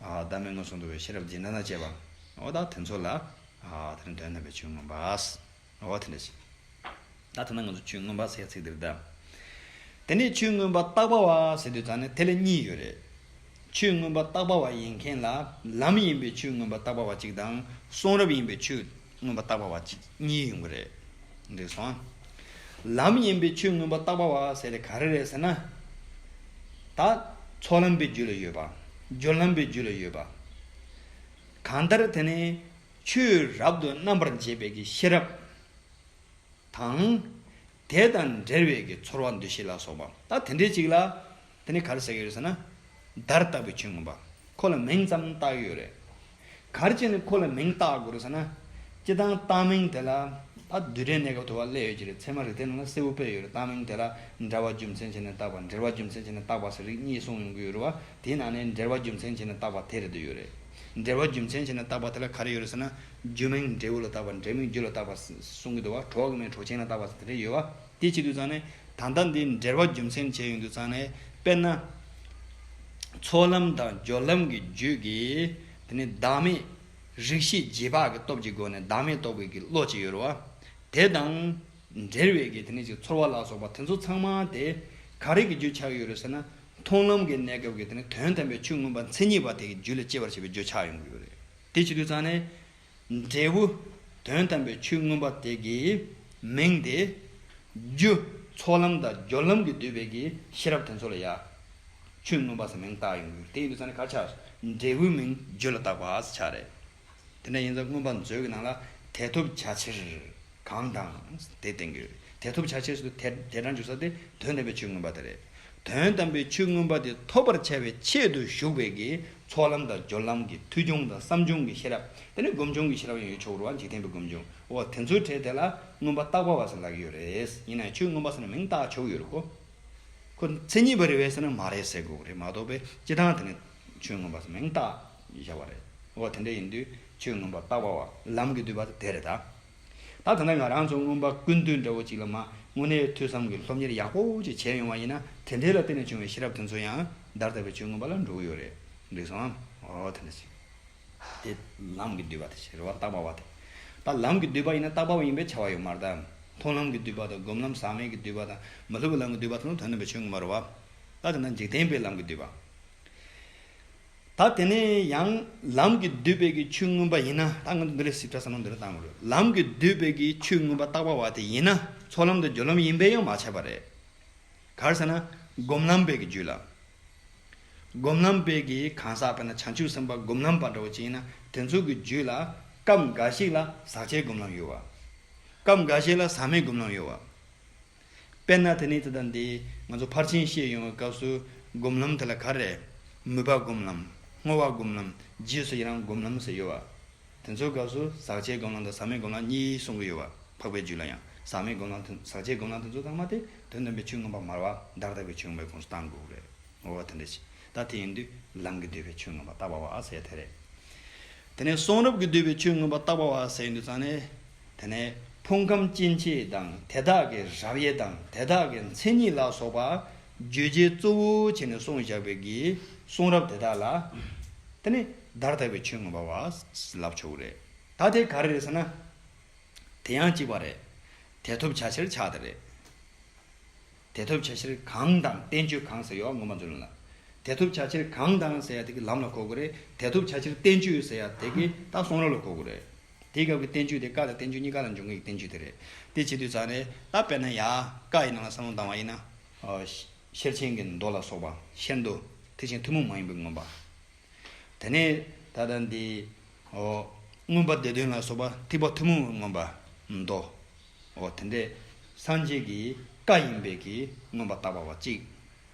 བདག་མེད་མངོན་སུམ་དུ་བའི་ཤེས་རབ་སྦྱིན་ན་ན་བཅས་པ། བདག་དེ་ཚོ་ལ། དེ་ནི་དོན་དམ་པའི་ཆོས་མངོན་པ། དེ་འདྲ་ཞིག། བདག་དེ་ན་ང་ཚོ་ཆོས་མངོན་པ་ཟེར་ཚིག་འདིར་བདག། དེ་ནས་ཆོས་མངོན་པ་རྟག་པ་བ་ཟེར་དུས་བདག་ནི་དེ་ལ་གཉིས་ཡོད་རེད། ཆོས་མངོན་པ་རྟག་པ་བ་ཡིན་མཁན་ལ་ལམ་ཡིན་པའི་ཆོས་མངོན་པ་རྟག་པ་བ་གཅིག་དང་གསུང་རབ་ཡིན་པའི་ཆོས། མངོན་པར་བརྟགས་པ་བ་གཅིག་གཉིས་ཡོང་གི་རེད། འགྲིག་སོང་ཨ། ལམ་ཡིན་པའི་ཆོས་མངོན་པར་བརྟགས་པ་བ་ཟེར་དེ་ག་རེ་རེད་ཟེར་ན། ད། ཚོགས་ལམ་པའི་རྒྱུད་ལ་ཡོད་པ། སྦྱོར་ལམ་པའི་རྒྱུད་ལ་ཡོད་པ། གང་ལྟར་དེ་ནི། ཆོས་རབ་ཏུ་རྣམ་པར་འབྱེད་པའི་ཤེས་རབ། དང། དེ་དང་འབྲེལ་བའི་གི་ཚོར་བ་འདུ་ཤེས་ལ་སོགས་པའམ་ད་དེ་འདྲའི་ཅིག་ལ། དེ་ནི་གར་ཟེར་གི་རེད་ཟེར་ན། བརྡར་བཏགས་པའི་ཆོས་ངོ་པ། ཁོ་ལ་མིང་ཙམ་བཏགས་ཡོད་རེད། གར་གྱི་ནི་ཁོ་ལ་མིང་བཏགས་དགོས་རེད་ཟེར་ན། སྤྱི་བཏང་བཏགས་མིང་དེ་ལ། ད་བསྡུས་གྲྭའི་གནས་སྐབས་དུ་བ་བསླད་ཡོད་ཀྱི་རེད་ཚད་མ་རིག་ལྡན་ནང་ལ་སེར་བུ་སྤེལ་ཡོད་རེད་བཏགས་མིང་དེ་ལ། འདྲ་བ་རྒྱུ་མཚན་བྱས་ནས་བཏགས་པ་འབྲེལ་བ་རྒྱུ་མཚན་བྱས་ནས་བཏགས་པ་ཟེར་རིགས་གཉིས་གསུངས་ཡོང་གི་ཡོད་རེད་བ། དེའི་ནང་ནས་འབྲེལ་བ་རྒྱུ་མཚན་བྱས་ནས་བཏགས་པ་དེ་རེད་འདོད་ཡོད་རེད། འབྲེལ་བ་རྒྱུ་མཚན་བྱས་ནས་བཏགས་པ་དེ་ལ་གར་ཡོད་རེད་ཟེར་ན། རྒྱུ་མིང་འབྲས་བུ་ལ་བཏགས་པ་འབྲས་མིང་རྒྱུ་ལ་བཏགས་པ་གསུང་གི་འདུག་བ་གྲོགས་ཀྱི་མིང་གྲོགས་ཆེན་ལ་བཏགས་པ་དེ་འདྲ་ཡོད་བ་དེ་བྱེད་དུས་ཙང་ནས་ད་ལྟ་འདི་འབྲེལ་བ་རྒྱུ་མཚན་བྱས་ཡོང་དུས་ཙང་ནས་དཔེར་ན། ཚོགས་ལམ་དང་སྦྱོར་ལམ་གྱི་རྒྱུད་ཀྱི་དེ་ནི་བདག་མེད་རིག་ཤེས་རྗེས་དཔག་གི་སྟོབས་ཀྱི་སྒོ་ནས་བདག་མེད་རྟོགས་པའི་གི་བློ་ཅིག་ཡོད་རུང་བ། དེ་དང་འབྲེལ་བའི་གི་དེ་ནི་ཅིག་ཚོར་བ་ལ་སོགས་པ་དེ་ཚོ་ཚང་མ་དེ་ག་རེ་གི་རྒྱུ་ཆགས་ཀྱི་ཡོད་རེད་ཟེར་ན་མཐོང་ལམ་གྱི་གནས་སྐབས་ཀྱི་དེ་ནི་དོན་དམ་པའི་ཆོས་མངོན་པ་མཚན་ཉིད་པ་དེ་གི་རྒྱུ་ལས་སྐྱེས་པར་བྱས་པའི་རྒྱུ་ཆགས་ཡོང་གི་ཡོད་རེད། དེ་བྱེད་དུ་བཅངས་ནས། འབྲས་བུ་དོན་དམ་པའི་ཆོས་མངོན་པ་དེ་གའི་མིང་སྟེ། རྒྱུ་ཚོགས་ལམ་དང་སྦྱོར་ལམ་གྱིས་བསྡུས་པའི་གའི་ཤེས་རབ་དེ་ཚོ་ལ་ཡང། ཆོས་མངོན་པ་སའི་མིང་བཏགས་ཡོང་གི། དེ་ཡིན་དུ་བཅངས་ནས་གར་ཆགས་འབྲས་བུའི་མིང་རྒྱུ་ལ་བཏགས་པ་ཆགས་རེད། དེ་འདྲ་ཡིན་ཙང་མངོན་པ་མཛོད་ཀྱི་ནང་ལ་དེ་ཐོབ་བྱ་ཕྱིར། གང་དང། དེ་བསྟན་དགོས། དེ་ཐོབ་བྱ་ཕྱིར་དེ་སྦྲང་འཇུག་ས་དེ་དོན་དམ་པའི་ཆོས་མངོན་པ་དེ་རེད། དོན་དམ་པའི་ཆོས་མངོན་པ་དེ་ཐོབ་པར་བྱ་བའི་ཆེད་དུ་ཞུགས་པའི་གིས་ཚོགས་ལམ་དང་སྦྱོར་ལམ་གྱི་མཐུས་བྱུང་དང་བསམ་བྱུང་གི་ཤེས་རབ་དེ་ནི་སྒོམ་བྱུང་གི་ཤེས་རབ་ཡང་ཡོད་ཆོག་རུང་བ་འཇིག་རྟེན་པའི་སྒོམ་བྱུང་འོ་དེ་ཚོའི་གྲས་དེ་ལ་མངོན་པ་རྟག་པ་བ་ཟེར་ལག་ཡོད་རེད། ཡིན་ནའང་ཆོས་མངོན་པ་ཟེར་ན་མིང་བཏགས་ཆོག་ཡོད་རེད་ཁོ། ཁོ་མཚན་ཉིད་པ་རེད་བས་ཟེར་ན་མ་རེད་ཟེར་དགོས་པ་རེད་མ་གཏོགས་པས་སྤྱི་བཏང་དེ་ནི་ཆོས་མངོན་པ་ཟེར་མིང་བཏགས། བཞག་པ་རེད། འོ་དེ་འདྲ་ཡིན་དུས་ཁྱོད་མངོན་པར་རྟག་པ་བ། ལམ་གྱི་བསྡུས་པ་དེ་རེད་ད། ད་ཐ་ན་ང་རང་ཚོ་མངོན་པ་ཀུན་བཏུས་འདྲ་བོ་ཅིག་ལ་མ་དངོས་གནས་ཐོས་བསམ་གྱི་སློབ་གཉེར་ཡག་པོ་ཅིག་བྱས་ཡོང་བ་ཡིན་ན་དེ་འདྲའི་ལ་བརྟེན་ནས་བྱུང་བའི་ཤེས་རབ་དེ་ཚོ་ཡང་བདར་ཐབས་པའི་ཆོས་མངོན་པ་ལ་འགྲོ་གི་ཡོད་རེད། འགྲིག་སོང་ངམ། འོ་དེ་འདྲ་ཅིག། དེ་ལམ་གྱི་བསྡུས་པ་དེ་རེད་བ་རྟག་པ་བ་དེ། ད་ལམ་གྱི་བསྡུས་པ་ཡིན་ན་རྟག་པ་བ་ཡིན་པའི་ཆ་བ་ཡོད་མ་རེད་དམ། མཐོང་ལམ་གྱི་བསྡུས་པ་དང་སྒོམ་ལམ་ཟག་མེད་ཀྱི་བསྡུས་པ་དང་མ་ལུས་པ་ལམ་གྱི་བསྡུས་པ་དེ་ཚོ་དོན་སྟོན་པའི་ཆོས་མངོན་པ་རེད་བ། ད་དེ་འདྲ་འཇིག་རྟེན་པའི་ལམ་གྱི་བསྡུས་པ། ད་དེ་ནས་ཡང་ལམ་གྱི་བསྡུས་དཔེ་ཀྱི་ཆོས་མངོན་པ་ཡིན་ན་ད་ང་ཚོ་འདི་ལས་ཞིབ་ཕྲ་བསམ་བློ་འདི་ལྟར་བཏང་དགོས། ལམ་གྱི་བསྡུས་དཔེ་ཀྱི་ཆོས་མངོན་པ་རྟག་པ་བ་དེ་ཡིན་ན་ཚོགས་ལམ་དང་སྦྱོར་ལམ་ཡིན་པས་ཡང་མ་ཆད་པ་རེད། གར་ཟེར་ན་སྒོམ་ལམ་དཔལ་གྱི་རྒྱུད་ལ། སྒོམ་ལམ་དཔལ་གྱི་གང་ཟག་དཔེར་ན་བྱང་ཆུབ་སེམས་དཔའ་སྒོམ་ལམ་པ་འདྲ་བོ་ཅིག་ཡིན་ན་དེ་ཚོ་གི་རྒྱུད་ལ་སྐབས་འགའ་ཞིག་ལ་ཟག་བཅས་སྒོམ་ལམ་ཡོད་བ། སྐབས་འགའ་ཞིག་ལ་ཟག་མེད་སྒོམ་ལམ་ཡོད་བ། དཔེར་ན་དེ་ནི་དེ་དང་དེས་ང་ཚོ་ཕར་ཕྱིན་ཤེས་ཡོང་བའི་སྐབས་སུ་སྒོམ་ལམ་དེ་ལ་ག་རེ། མོས་པ་སྒོམ་ལམ། བསྔོ་བ་སྒོམ་ལམ། རྗེས་སུ་ཡི་རང་སྒོམ་ལམ་ཟེར་ཡོད་བ། དེ་ཚོའི་སྐབས་སུ་ཟག་བཅས་སྒོམ་ལམ་དང་ཟག་མེད་སྒོམ་ལམ་གཉིས་གསུང་གི་ཡོད་བ། འཕགས་པའི་རྒྱུད་ལ་ཡང་ཟག་མེད་སྒོམ་ལམ་དང་ཟག་བཅས་སྒོམ་ལམ་དེ་ཚོ་ཚང་མ་དེ་དོན་སྟོན་པའི་ཆོས་མངོན་པ་མར་བ་བདག་ལྟ་བུའི་ཆོས་མངོན་པའི་ཁོངས་སུ་གཏང་དགོས་རེད། ངོ་བོ་དེ་འདྲ་ཞིག་ད་དེ་ཡིན་དུས་ལམ་གྱི་བསྡུས་པའི་ཆོས་མངོན་པ་རྟག་པ་བ་ཟེར་ཡ་དེ་རེད། དེ་ནས་གསུང་རབ་ཀྱི་བསྡུས་པའི་ཆོས་མངོན་པ་རྟག་པ་བ་ཟེར་ཡིན་དུས་ཙང་ནས། དེ་ནས་ཕུང་ཁམས་སྐྱེ་མཆེད་དང་དེ་དག་གི་རབ་དབྱེ་དང་དེ་དག་གི་མཚན་ཉིད་ལ་སོགས་པ་བརྗོད་བྱའི་གཙོ་བོ་བྱས་ནས་གསུངས་བཞག་པའི་གི་གསུང་རབ་དེ་དག་ལ། དེ་ནི་བརྡར་དག་པའི་ཆོས་ངོ་བ་བ་ལབ་ཆོག་གི་རེད། ད་དེ་ག་རེ་རེད་ཟེར་ན། དེ་ཡང་གཅིག་པ་རེད། དེ་ཐོབ་བྱ་ཕྱིར་ཆགས་དེ་རེད། དེ་ཐོབ་བྱ་ཕྱིར་གང་དང་བསྟན་བཅོས་གང་ཟེར་ཡོད་ངོ་མ་རྫུན་ལ། དེ་ཐོབ་བྱ་ཕྱིར་གང་དང་ཟེར་ཡ་དེ་གི་ལམ་ལ་གོ་གི་རེད། དེ་ཐོབ་བྱ་ཕྱིར་བསྟན་བཅོས་ཟེར་ཡ་དེ་གི་ད་གསུང་རབ་ལ་གོ་གི་རེད། དེའི་སྐབས་ཀྱི་བསྟན་བཅོས་དེ་ཀྵ་དང་བསྟན་བཅོས་གཉིས་ཀ་ལ་འབྱུང་ངེས་ཀྱི་བསྟན་བཅོས་དེ་རེད། དེ་བྱེད་དུས་ཙང་རེད། ད་དཔེར་ན་ཡང་ཀྵ་ཡི་ནང་ལ་བསམ་བློ་འདང་བ་ཡིན་ན། ཤེར་ཕྱིན་གྱི་མདོ་ལ་སོགས་པ། ཤེར་མདོ། དེ་བཞིན་ཐུན་མོང་མ་ཡིན་པའི་མངོན་པ། དེ་ནས་ད་ལྟ་འདི། མངོན་པ་སྡེ་དོན་ལ་སོགས་པ་ཐིགས་པ་ཐུན་མོང་བའི་མངོན་པ། མདོ། འོ་དེ་འདྲས་སངས་རྒྱས་ཀྱི་ཀྵ་ཡིན་པས་ཀྱི་མངོན་པ་བཏགས་པ་བ་གཅིག།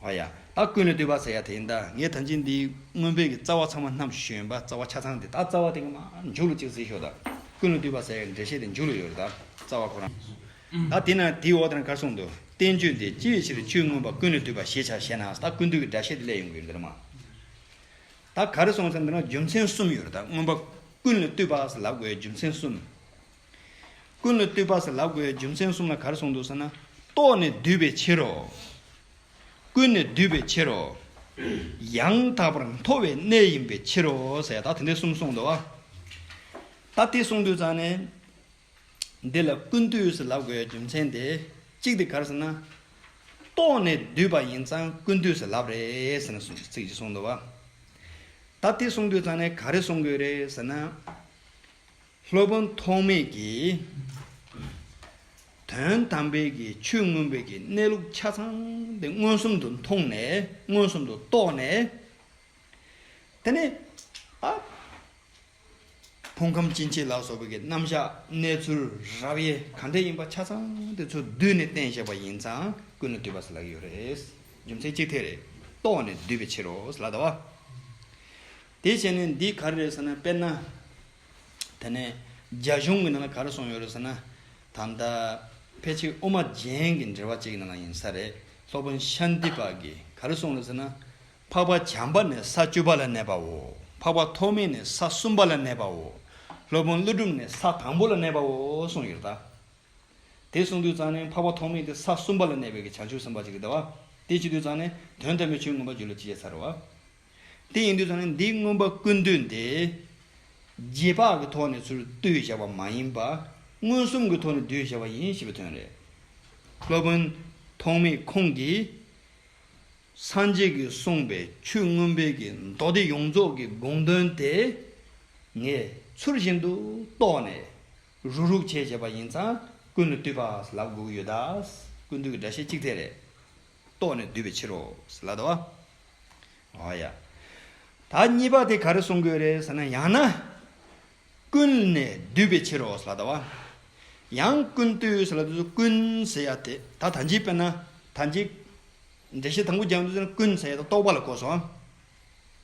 བ་ཡ། ད་ཀུན་ནས་བསྟོད་པ་ཟེར་ཡ་དེ་ཡིན་ད། ངས་ད་འཇིག་འདིའི་སྔོན་བོད་ཀྱི་རྩ་བ་ཚང་མ་ནམ་ཞོན་པ་རྩ་བ་ཆ་ཚང་དེ་ད་རྩ་བ་དེ་ག་མ་མཇུག་ལོ་གཅིག་ཟེར་ཞོག་ད། ཀུན་ནས་བསྟོད་པ་ཟེར་ཡ་འགྲེལ་བཤད་དེ་མཇུག་ལོ་ཡོད་རེད་ད། རྩ་བ་ཁོ་རང། ད་དེ་ན་དེའི་འོག་དེ་ན་གར་སོང་འདུག་བསྟན་བཅོས་འདི་ཅིའི་ཕྱིར་ཆོས་མངོན་པ་ཀུན་ནས་བསྟོད་པ་ཞེས་བྱ་ཞེ་ན་ད་ཀུན་བཏུས་ཀྱི་སྒྲ་བཤད་དེ་སླད་ཡོང་གི་ཡོད་འདི་ལ་མ། ད་ག་རེ་སོང་ཟེར་འདི་ན་རྒྱུ་མཚན་གསུམ་ཡོད་རེད་ད་སྔོན་པ་ཀུན་ནས་བསྟོད་པ་ལ་དགོས་རྒྱུ་མཚན་གསུམ། ཀུན་ལ་བཏུད་པ་ཟེར་ལབ་དགོས་རྒྱུ་མཚན་གསུམ་ལ་གར་སོང་འདུག་ཟེར་ན། རྟོགས་ནས་བསྡུས་པའི་ཕྱིར་རོ། ཀུན་ནས་བསྡུས་པའི་ཕྱིར་རོ། ཡང་དག་པར་མཐོ་བའི་གནས་ཡིན་པའི་ཕྱིར་རོ་ཟེར་ད་དེ་འདི་གསུམ་གསུངས་འདུག་ད་དེ་གསུངས་དུས་ཙང་ནས། འདི་ལ་ཀུན་བཏུད་ཟེར་ལབ་དགོས་རྒྱུ་མཚན་དེ་གཅིག་དེ་གར་ཟེར་ན། རྟོགས་ནས་བསྡུས་པ་ཡིན་ཙང་ཀུན་བཏུད་ཟེར་ལབ་རེད་ཟེར་ནས་ཚིག་གཅིག་གསུངས་འདུག་ད་དེ་གསུངས་དུས་ཙང་ནས་ག་རེ་གསུངས་དགོས་རེད་ཟེར་ན། སློབ་དཔོན་ཐོགས་མེད་ཀྱིས། དོན་དམ་པའི་གི་ཆོས་མངོན་པའི་གི་གནས་ལུགས་ཆ་ཚང་དེ་མངོན་སུམ་དུ་མཐོང་ནས་མངོན་སུམ་དུ་རྟོགས་ནས། དེ་ནས་ཨ། ཕུང་ཁམས་སྐྱེ་མཆེད་ལ་སོགས་པའི་གི་རྣམ་གཞག་གནས་ཚུལ་རབ་དབྱེ་གང་འདྲ་ཡིན་པ་ཆ་ཚང་དེ་ཚོ་བསྡུས་ནས་བསྟན་བཞག་པ་ཡིན་ཙང་ཀུན་ལ་འདུས་པ་ཟེར་ལ་ཡོད་རེད། རྒྱུ་མཚན་གཅིག་དེ་རེད། རྟོགས་ནས་བསྡུས་པའི་ཕྱིར་རོ་ཟེར་ལ་དྭ་བ། དེ་བྱས་ནས་འདི་ག་རེད་ཟེར་ན་དཔེར་ན། དེ་ནས་རྒྱ་གཞུང་གི་ནང་ལ་ག་རེ་སོང་ཡོད་རེད་ཟེར་ན། ད་ལྟ་ཕལ་ཆེར་དབུ་མ་རྒྱན་གྱི་འབྲེལ་བ་བཅས་ཀྱི་ནང་ལ་ཡིན་ས་རེད། སློབ་དཔོན་ཤཱནྟི་པ་གིས་ག་རེ་གསུངས་རེད་ཟེར་ན། འཕགས་པ་བྱམས་པ་ནས་ས་བཅུ་པ་ལ་གནས་པའོ། འཕགས་པ་ཐོགས་མེད་ནས་ས་གསུམ་པ་ལ་གནས་པའོ། སློབ་དཔོན་ཀླུ་སྒྲུབ་ནས་ས་དང་པོ་ལ་གནས་པའོ་གསུངས་ཡོད་རེད་ད། དེ་གསུངས་དུས་ཙང་ནས་འཕགས་པ་ཐོགས་མེད་དེ་ས་གསུམ་པ་ལ་གནས་པའི་གི་བྱང་ཆུབ་སེམས་དཔའ་ཅིག་རེད་ད་བ། དེ་བྱེད་དུས་ཙང་ནས་དོན་དམ་པའི་ཆོས་མངོན་པར་བརྗོད་ལུགས་ཅི་བྱས་ཚར་རེད་བ། དེ་ཡིན་དུས་ཚང་ནི་འདིའི་མངོན་པ་ཀུན་བཏུས་ཏེ། རྗེས་དཔག་གི་ཐོག་ནས་ཚུར་བཏུས་བཞག་པ་མ་ཡིན་པར། མངོན་སུམ་གྱི་ཐོག་ནས་བསྡུས་བཞག་པ་ཡིན་ཞེས་པའི་དོན་རེད། སློབ་དཔོན་ཐོགས་མེད་ཁོང་གིས། སངས་རྒྱས་ཀྱིས་གསུངས་པའི་ཆོས་མངོན་དཔལ་གྱི་མདོ་སྡེ་ཡོངས་རྫོགས་ཀྱི་དགོངས་དོན་དེ། ངས་ཚུར་བཞིན་དུ་རྟོགས་ནས། རུ་རུག་བྱས་བྱས་པ་ཡིན་ཙང་ཀུན་ལ་བཏུས་པ་ལབ་དགོས་ཀྱི་ཡོད། ཀུན་བཏུས་ཀྱི་སྒྲ་བཤད་གཅིག་ཚད་རེད། རྟོགས་ནས་བསྡུས་པའི་ཕྱིར་རོ། ལ་དྭགས། ཨོ་ཡ། ད་གཉིས་པ་དེ་ག་རེ་གསུང་དགོས་རེད་ཟེར་ན་ཡང་ན། ཀུན་ནས་བསྡུས་པའི་ཕྱིར་རོ་ཟེར་བ་ལྟ་བ། ཡང་ཀུན་བཏུས་ཟེར་ལ་དེ་ཚོ་ཀུན་ཟེར་ཡ་དེ་ད་ད་འཇིག་དཔེར་ན་ད་འཇིག། འགྲེལ་བཤད་དང་པོ་རྒྱག་འདོད་ཚེ་ན་ཀུན་ཟེར་ཡ་ད་རྟོག་པ་ལ་གོ་སོང།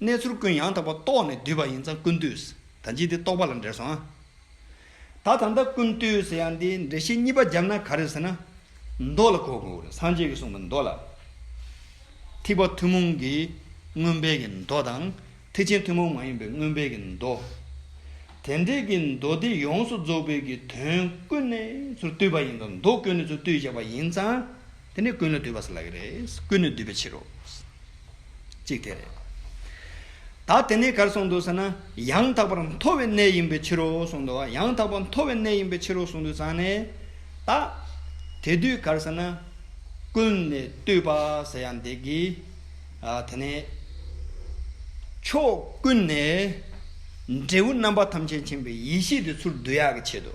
གནས་ཚུལ་ཀུན་ཡང་དག་པ་རྟོགས་ནས་བསྡུས་པ་ཡིན་ཙང་ཀུན་བཏུས་ཟེར་ད་འཇིག་དེ་རྟོག་པ་ལ་འགྲེལ་སོང། ད་ད་ལྟ་ཀུན་བཏུས་ཟེར་ཡང་འདི་འགྲེལ་བཤད་གཉིས་པ་བརྒྱབ་ན་ག་རེ་ཟེར་ན། མདོ་ལ་གོ་དགོས་རེད་སངས་རྒྱས་ཀྱིས་གསུངས་པའི་མདོ་ལ། ཐེག་པ་ཐུན་མོང་གི་མངོན་དཔལ་གྱི་མདོ་དང། ཐེག་ཆེན་ཐུན་མོང་མ་ཡིན་པའི་མངོན་དཔལ་གྱི་མདོ། དེ་འདྲེས་ཀྱི་མདོ་སྡེ་ཡོངས་སུ་རྫོགས་དཔལ་གྱི་དོན་ཀུན་ནས་ཚུར་བཏུས་པ་ཡིན་ལ་མདོ་ཀུན་ནས་ཚུར་བཏུས་བཞག་པ་ཡིན་ཙང། དེ་ནི་ཀུན་ལ་འདུས་པ་ཟེར་ལགས་རེད། ཀུན་ནས་འདུས་པའི་ཕྱིར་རོ། གཅིག་དེ་རེད། ད་དེ་ནས་གར་སོང་འདུག་ཟེར་ན། ཡང་དག་པར་མཐོ་བའི་གནས་ཡིན་པའི་ཕྱིར་རོ་གསུངས་འདུག་ཡང་དག་པར་མཐོ་བའི་གནས་ཡིན་པའི་ཕྱིར་རོ་གསུངས་འདུག་ཙང་ནས། ད། དེ་དུས་གར་ཟེར་ན། ཀུན་ནས་བཏུས་པ་ཟེར་ཡང་འདེགས་གི། དེ་ནས། ཕྱོགས་ཀུན་ནས། འབྲས་བུ་རྣམ་པ་ཐམས་ཅད་མཁྱེན་པའི་ཡེ་ཤེས་དེ་ཚུར་བསྡུ་ཡག་གི་ཆེད་དུ།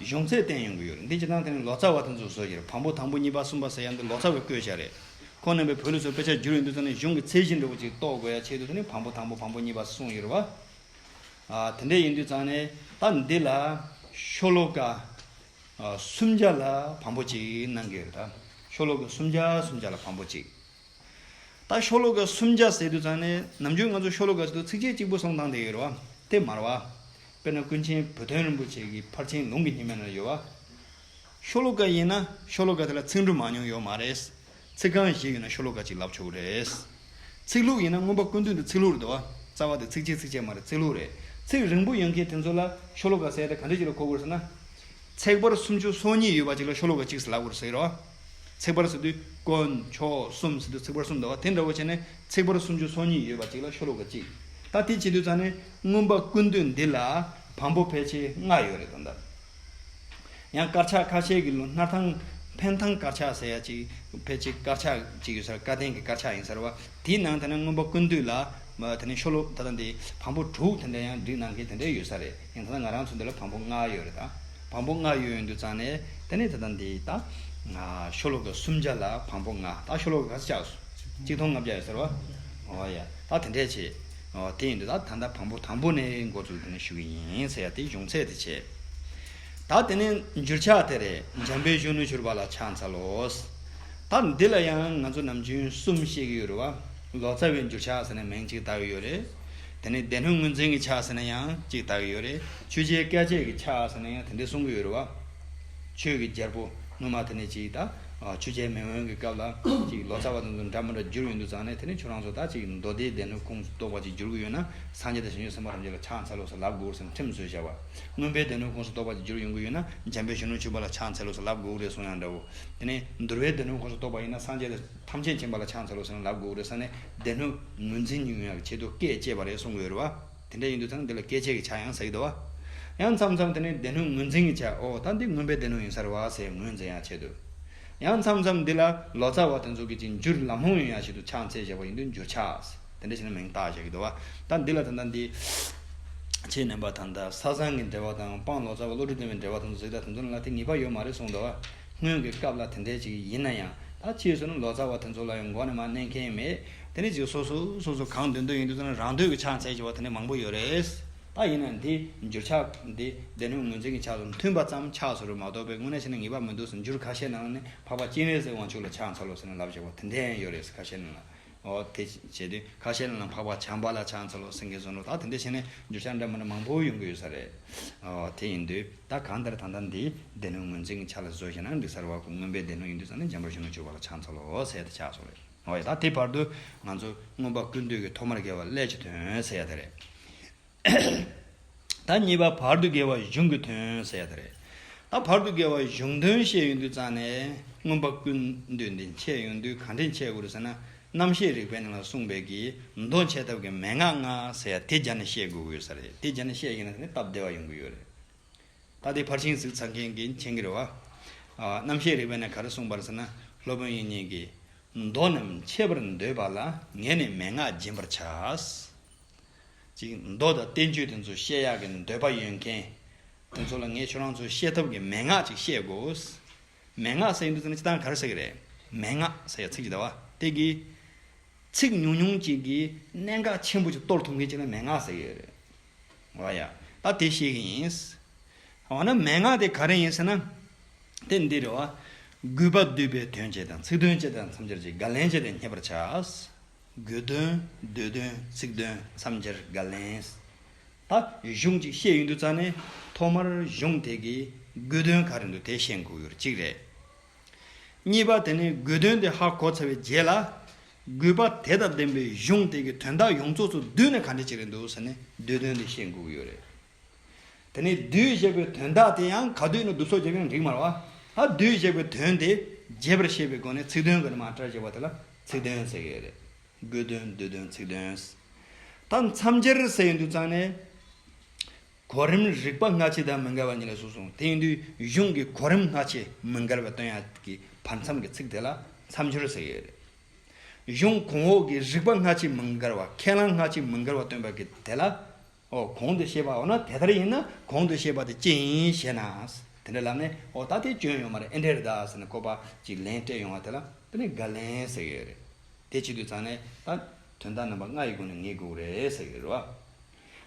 གཞུང་ཚད་བསྟན་ཡོང་གི་ཡོད་རེད་འདི་ཇི་ལྟར་ཐེངས་ལོ་ཙཱ་བ་དེ་ཚོ་བཟོ་རྒྱུ་རེད་བམ་པོ་དང་པོ་གཉིས་པ་གསུམ་པ་ཟེར་ཡ་འདི་ལོ་ཙཱ་བའི་བཀོད་བྱ་རེད་ཁོང་རྣམ་པས་བོད་ལུགས་སུ་དཔེ་ཆ་བསྒྱུར་ཡོང་དུས་ཚོ་ནི་གཞུང་གི་ཚད་གཞི་འདྲ་བོ་ཅིག་རྟོགས་དགོས་ཡ་ཆེད་དུ་ཚོ་ནི་བམ་པོ་དང་པོ་བམ་པོ་གཉིས་པ་གསུངས་ཡོད་རེད་བ། དེ་འདྲ་ཡིན་དུས་ཙང་ནི་ད་འདི་ལ་ཤོ་ལོ་ཀ་སུམ་བརྒྱ་ལ་བམ་པོ་གཅིག་གནང་གི་ཡོད་རེད་ད་ཤོ་ལོ་ཀ་སུམ་བརྒྱ་སུམ་བརྒྱ་ལ་བམ་པོ་གཅིག། ད་ཤོ་ལོ་ཀ་སུམ་བརྒྱ་ཟེར་དུས་ཙང་ནས་ནམ་རྒྱུན་ང་ཚོ་ཤོ་ལོ་ཀ་དུ་ཚིགས་བཅད་གཅིག་པུ་གསུངས་བཏང་བསྡད་ཡོད་རེད་བ་དེ་མ་རེད་བ། དཔེར་ན་ཀུན་མཁྱེན་བུ་སྟོན་རིན་པོ་ཆེ་གི་ཕར་ཕྱིན་ལུང་གི་ཉི་མའི་ནང་ཡོད་བ། ཤོ་ལོ་ཀ་ཡིན་ན་ཤོ་ལོ་ཀ་དེ་ལ་ཚིག་འབྲུ་མང་ཉུང་ཡོད་མ་རེད། ཚིག་རྐང་བཞི་ཡོད་ན་ཤོ་ལོ་ཀ་གཅིག་ལབ་ཆོག་གི་རེད། ཚིག་ལྷུག་ཡིན་ན་མངོན་པ་ཀུན་བཏུས་འདི་ཚིག་ལྷུག་རེད་བ། རྩ་བ་དེ་ཚིགས་བཅད་ཚིགས་བཅད་མ་རེད་ཚིག་ལྷུག་རེད། ཚིག་རིང་པོ་ཡོད་མཁན་དེ་ཚོ་ལ་ཤོ་ལོ་ཀ་ཟེར་ཡ་ད་ག་འདྲ་གྱི་ལ་གོ་དགོས་ཟེར་ན། ཚེག་བར་སུམ་ཅུ་སོ་གཉིས་ཡོད་པ་གཅིག་ལ་ཤོ་ལོ་ཀ་གཅིག་ཟེར་ལབ་དགོས་རེད་ཟེར། ཚེག་བར་སོ་དུས་དཀོན་མཆོག་གསུམ་ཟེར་དུས་ཚེག་བར་གསུམ་འདུག་དེ་འདྲ་བོ་བྱས་ནས་ཚེག་བར་སུམ་ཅུ་སོ་གཉིས་ཡོད་པ་གཅིག་ལ་ཤོ་ལོ་ཀ་གཅིག་ད་དེ་བྱེད་དུས་ཙང་ནས་རྔོན་པ་ཀུན་འདུས་འདི་ལ་བམ་པོ་ཕལ་ཆེ་ལྔ་ཡོད་རེད་དོ། ཡང་དཀར་ཆག་ཁ་ཤས་ཀྱི་ལོ་སྣར་ཐང་འཕན་ཐང་དཀར་ཆག་ཟེར་ཡ་གཅིག་ཕལ་ཆེ་དཀར་ཆག་གཅིག་ཡོད་ས་རེད་བཀའ་བསྟན་གྱི་དཀར་ཆག་ཡིན་ས་རེད་བ། དེའི་ནང་ད་ནི་སྔོན་པོ་ཀུན་འདུས་ལ། ད་ནི་ཤོ་ལོ་ད་ལྟ་འདི། བམ་པོ་དྲུག་དེ་འདྲ་ཡང་བསྒྲིགས་གནང་མཁན་དེ་འདྲ་ཡོད་ས་རེད་ཡང་ད་ལྟ་ང་རང་ཚོ་འདི་ལ་བམ་པོ་ལྔ་ཡོད་རེད་ད། བམ་པོ་ལྔ་ཡོད་ཡོད་འདུག་ཙང་ནས་ད་ནི་ད་ལྟ་འདི་ད། ཤོ་ལོ་ཀ་སུམ་བརྒྱ་ལ་བམ་པོ་ལྔ་ད་ཤོ་ལོ་ཀ་ག་ཚོད་ཆགས། གཅིག་ཐོང་ལྔ་བརྒྱ་ཡོད་ས་རེད་བ། ཨོ་ཡ། ད་དེ་འདྲས་བྱས། ཨོ་དེ་ཡིན་འདུག་ད་ད་ལྟ་བམ་པོ་དང་པོ་ནས་འགོ་འཛུགས་དེ་ནས་ཞུ་གི་ཡིན་ས་ཡ་དེ་གཞུང་ཚད་དེ་བྱས། ད་དེ་ནི་འགྱུར་ཕྱག་དེ་རེད་འཇམ་པའི་གཞོན་ནུ་བྱུར་བ་ལ་ཕྱག་འཚལ་ལོ། ད་འདི་ལ་ཡང་ང་ཚོ་ནམ་རྒྱུན་གསུམ་བཤད་ཀྱི་ཡོད་རེད་བ། ལོ་ཙཱ་བའི་འགྱུར་ཕྱག་ཟེར་ནས་མིང་གཅིག་བཏགས་ཡོད་རེད། དེ་ནས་སྡེ་སྣོད་ངོས་འཛིན་གྱི་ཕྱག་ཟེར་ནས་ཡང་གཅིག་བཏགས་ཡོད་རེད། ཆོས་རྗེའི་བཀའ་ཆད་ཀྱི་ཕྱག་ཟེར་ནས་ཡང་དེ་འདྲ་གསུང་གི་ཡོད་རེད་བ། ཆོས་ཀྱི་རྒྱལ་པོ་ངོ་མ་དེ་ནས་གཅིག་ད་ཆོས་རྗེ་མེས་དབོན་གྱི་སྐབས་ལ་གཅིག་ལོ་ཙཱ་བ་དང་ཚོ་འདྲ་མི་འདྲ་འགྱུར་ཡོད་འདུག་ཙང་ནས་དེ་ནས་ཁྱོད་རང་ཚོ་ད་གཅིག་མདོ་སྡེའི་སྡེ་སྣོད་ཁུངས་སུ་གཏོགས་པ་གཅིག་འགྱུར་གྱི་ཡོད་ན་སངས་རྒྱས་དང་ཞིང་ཆེན་སེམས་དཔའ་ཐམས་ཅད་ལ་ཕྱག་འཚལ་ལོ་ཟེར་ལབ་དགོས་ཟེར་ནས་ཁྲིམས་བཟོས་བཞག་བ། མངོན་པའི་སྡེ་སྣོད་ཁོངས་སུ་གཏོགས་པ་གཅིག་གྱུར་ཡོང་གི་ཡོད་ན་འཇམ་པའི་གཞོན་ནུ་འཆི་བ་ལ་ཕྱག་འཚལ་ལོ་ཟེར་ལབ་དགོས་ཀྱི་རེད་གསུང་ཡང་འདྲ་བོ། དེ་ནས་འདུལ་བའི་སྡེ་སྣོད་ཁོངས་སུ་གཏོགས་པ་ཡིན་ན་སངས་རྒྱས་ལ་ཐམས་ཅད་མཁྱེན་པ་ལ་ཕྱག་འཚལ་ལོ་ཟེར་ན་ལབ་དགོས་ཀྱི་རེད་ས་ནས་སྡེ་སྣོད་ངོས་འཛིན་ཉུང་ཡང་ཆེད་དུ་བཀས་བཅད་པ་རེད་གསུང་གི་ཡོད་རེད་བ། དེ་འདྲ་ཡིན་དུས་ཚང་འདི་ལ་བཀས་བཅད་ཀྱི་ཆ་ཡང་ཟ་གི་འདུག་བ། ཡང་མཚམས་མཚམས་དེ་ནས་སྡེ་སྣོད་ངོས་འཛིན་གྱི་ཆ་ཨོ་ད་འདི་མངོན་པའི་སྡེ་སྣོད་ཡིན་ས་རེད་བ་ཟེར་ངོས་འཛིན་ཡང་བྱེད་དུས། ཡང་མཚམས་མཚམས་འདི་ལ་ལོ་ཙཱ་བ་དེ་ཚོ་གི་གཅིག་འགྱུར་ལམ་ལྷོང་ཡོད་ཡང་ཞིག་ཏུ་ཕྱག་འཚལ་བཞག་པ་ཡིན་དུས་འགྱུར་ཆགས། དེ་འདྲ་བྱས་ན་མིང་བཏགས་བྱ་གི་འདུག་བ། ད་འདི་ལ་ད་ནི། ཆེས་ནན་པ་དང་ད་ས་སང་གི་འབྲེལ་བ་དང་དཔང་ལོ་ཙཱ་བ་བློ་གྲོས་ལྡན་པའི་འབྲེལ་བ་དང་གཟིགས་ད་དེ་ཚོ་ལ་དེ་ངེས་པ་ཡོད་མ་རེད་གསུངས་འདུག་བ། སྔོན་གྱི་སྐབས་ལ་དེ་འདྲའི་ཅིག་ཡིན་ན་ཡང་ད་ཕྱིས་སུ་ནི་ལོ་ཙཱ་བ་དེ་ཚོ་ལ་ཡང་མགོ་ནས་མ་མནན་མཁན་མེད། དེ་ནི་ཅིག་སོ་སོ་སོ་སོ་གང་འདོད་འདོད་ཡིན་དུས་ཚོད་ན་རང་འདོད་ཀྱི་ཕྱག་འཚལ་བྱེད་པ་དེ་ནི་མང་པོ་ཡོད་རེད། ད་ཡིན་ན་འདི་འགྱུར་ཕྱག་འདི་སྡེ་སྣོད་ངོས་འཛིན་གྱི་ཕྱག་དང་མཐུན་པ་ཙམ་ཕྱག་བཟོ་རུ་མ་གཏོགས་པའི་དངོས་གནས་བྱས་ན་ངེས་པ་མི་འདུག་ཟེར་འགྱུར་ཁ་ཤས་ནང་ལ་ནི་འཕགས་པ་སྤྱན་རས་གཟིགས་དབང་ཕྱུག་ལ་ཕྱག་འཚལ་ལོ་ཟེར་ན་ལབ་བྱེད་པ་དེ་འདྲའི་ཡང་ཡོད་རེད་ཟེར་ཁ་ཤས་ནང་ལ་ཨོ། དེ་བྱས་དུས་ཁ་ཤས་ལ་ན་འཕགས་པ་བྱམས་པ་ལ་ཕྱག་འཚལ་ལོ་སེང་གེ་བཟོ་འགྲོ་ད་དེ་འདྲ་བྱས་ནས་འགྱོད་ཤག་འདྲ་མི་འདྲ་མང་པོ་ཡོང་གི་ཡོད་ས་རེད། ཨོ་དེ་ཡིན་དུས་ད་གང་ལྟར་ད་ལྟ་འདིའི་སྡེ་སྣོད་ངོས་འཛིན་གྱི་ཆ་ལ་བཟོས་ཤེ་ན་འགྲིག་ས་རེད་བ་སྔོན་པའི་སྡེ་སྣོད་ཡིན་དུས་ས་གནས་འཇམ་པོར་བཞུགས་ན་ཆོས་པ་ལ་ཕྱག་འཚལ་ལོ་ཟེར་ཏེ་ཕྱག་སོང་རེད། ཨོ་ཡ་ད་དེ་བར་དུ་ང་ཚོ་སྔོན་པ་ཀུན་འདུས་ཀྱི་ཐོག་མར་རྒལ་བ་སླད་ཀྱི་དོན་ཟེར་ཡ་དེ་རེད། ད་གཉིས་པ་བར་དུ་དགེ་བ་གཞུང་གི་དོན་ཟེར་ཡག་རེད། ད་བར་དུ་དགེ་བ་གཞུང་དོན་བཤད་ཡོང་དུས་རྩ་ནས་མངོན་པ་ཀུན་འདུས་འདི་འཆད་ཡོང་དུས་གང་དྲན་འཆད་དགོས་ཟེར་ན་རྣམ་བཤད་རིག་པའི་ནང་ལ་གསུངས་པའི་གྱི་མདོ་འཆད་ཐབས་ཀྱི་མན་ངག་ལྔ་ཟེར་ཡག་དེ་སྦྱར་ནས་བཤད་དགོས་ཀྱི་ཡོད་ས་རེད་དེ་སྦྱར་ནས་བཤད་ཤེས་ན་སྟབས་བདེ་བ་ཡོང་གི་ཡོད་རེད། ད་དེ་ཕར་ཕྱིན་གཟིགས་ཚར་མཁན་གྱི་མཁྱེན་གྱི་རེད་བ། རྣམ་བཤད་རིག་པའི་ནང་ག་རེ་གསུངས་པར་ཟེར་ན་སློབ་དཔོན་ཡིན་ཉེས་ཀྱི་མདོ་རྣམས་འཆད་པར་འདོད་པ་ལ་ངེས་ནས་མན་ངག་སྦྱིན་པར་བྱ། ཅིག་མདོ་དང་བསྟན་བཅོས་དེ་ཚོ་བཤད་ཡག་གི་འདོད་པ་ཡོད་མཁན་དེ་ཚོ་ལ་ངས་ཁྱོད་རང་ཚོའི་བཤད་ཐབས་ཀྱི་མན་ངག་ཅིག་བཤད་དགོས། མན་ངག་ཟེར་གྱི་འདུག་ཟེར་ན་ཅི་ལྟར་ག་རེ་ཟེར་གྱི་རེད། མན་ངག་ཟེར་ཡག་ཚིག་ཅིག་ད་བ་དེ་གི། ཚིག་ཉུང་ཉུང་ཅིག་གི་གནད་འགག་ཆེན་པོ་ཅིག་གཏོར་ཐུབ་མཁན་ཅིག་ལ་མན་ངག་ཟེར་གྱི་རེད། ང་ཡང་ད་དེ་བཤད་གི་ཡིན། འོ་ན་མན་ངག་དེ་ག་རེ་ཡིན་ཟེར་ན། དེ་འདི་རེད་བ། རྒུད་པ་སྡུད་པའི་དོན་བྱེད་དང་ཚིག་དོན་བྱེད་དང་མཚམས་སྦྱར་བྱེད་དགག་ལན་བྱེད་དང་མཉེས་པར་བྱ། དགོས་དོན། འདོད་དོན། ཚིག་དོན་མཚམས་སྦྱར་བརྒལ་ལན། ད་གཞུང་ཅིག་བཤད་ཡོད་འདུག་ཙང་ནས་ཐོག་མར་གཞུང་དེ་གི་དགོས་དོན་ག་རེ་འདུག་དེ་ཤེས་འགུག་ཡོར་གཅིག་རེད། གཉིས་པ་དེ་ནས་དགོས་དོན་དེ་ཧ་གོ་ཚར་བའི་རྗེས་ལ། དགོས་པ་དེ་དང་ལྡན་པའི་གཞུང་དེ་གི་དོན་དག་ཡོངས་རྫོགས་སུ་བསྡུས་ནས་ག་འདྲ་ཅིག་རེད་འདུག་ཟེར་ནས་འདོད་དོན་དེ་ཤེས་འགུག་གི་ཡོད་རེད། དེ་ནས་བདུད་བཞེད་པའི་དོན་དག་དེ་ཡང་ག་བདུད་ནི་བདུད་སོགས་བྱེད་པའི་རིགས་མར་བ། ཨ་བདུད་བཞེད་པའི་དོན་དེ་རྒྱས་པར་བཤད་པའི་སྒོ་ནས་ཚིག་དོན་གྱི་ནི་མ་ཏྲར་བཞེད་པ་དེ་ལ་ཚིག་དོན་ཟེར་གྱི་རེད། སྒོས་དོན་བདུད་དོན་ཚིག་དོན། ད་མཚམས་སྦྱར་ཟེར་ཡིན་དུས་ཙང་ནས། གོ་རིམ་རིག་པ་སྔ་ཕྱི་དང་མི་འགལ་བ་གཉིས་ལས་གསུངས་སོང་དེ་ཡིན་དུས་གཞུང་གི་གོ་རིམ་སྔ་ཕྱི་མི་འགལ་བའི་དོན་ཡང་གི་བར་མཚམས་ཀྱི་ཚིག་དེ་ལ་མཚམས་སྦྱོར་ཟེར་གྱི་རེད། གཞུང་གོང་འོག་གི་རིག་པ་སྔ་ཕྱི་མི་འགལ་བ་ཁས་བླངས་སྔ་ཕྱི་མི་འགལ་བ་སྟོན་པ་གི་དེ་ལ་ཨོ་གོང་དུ་བཤད་པ་འོ་ན་དེ་ལྟར་ཡིན་ན་གོང་དུ་བཤད་པ་དེ་ཅི་ཡིན་ཞེ་ན། དེ་འདྲ་ལབ་ནས་ཨོ་ད་དེ་བྱོན་ཡོང་མ་རེད་ཨེ་འདྲས་རེད་ད་ཟེར་ནས་བཀོད་པ་ཅིག་ལན་སྤྲད་ཡོང་བ་དེ་ལ་དཔེ་ལེན་དགའ་ལེན་ཟེར་གྱི་ཡོད་རེད། དེ་བྱེད་དུས་ཚང་ནས་ད་དོན་དག་རྣམ་པ་ལྔ་ཡི་སྒོ་ནས་ངེས་དགོས་རེད་ཟེར་གྱི་ཡོད་རེད།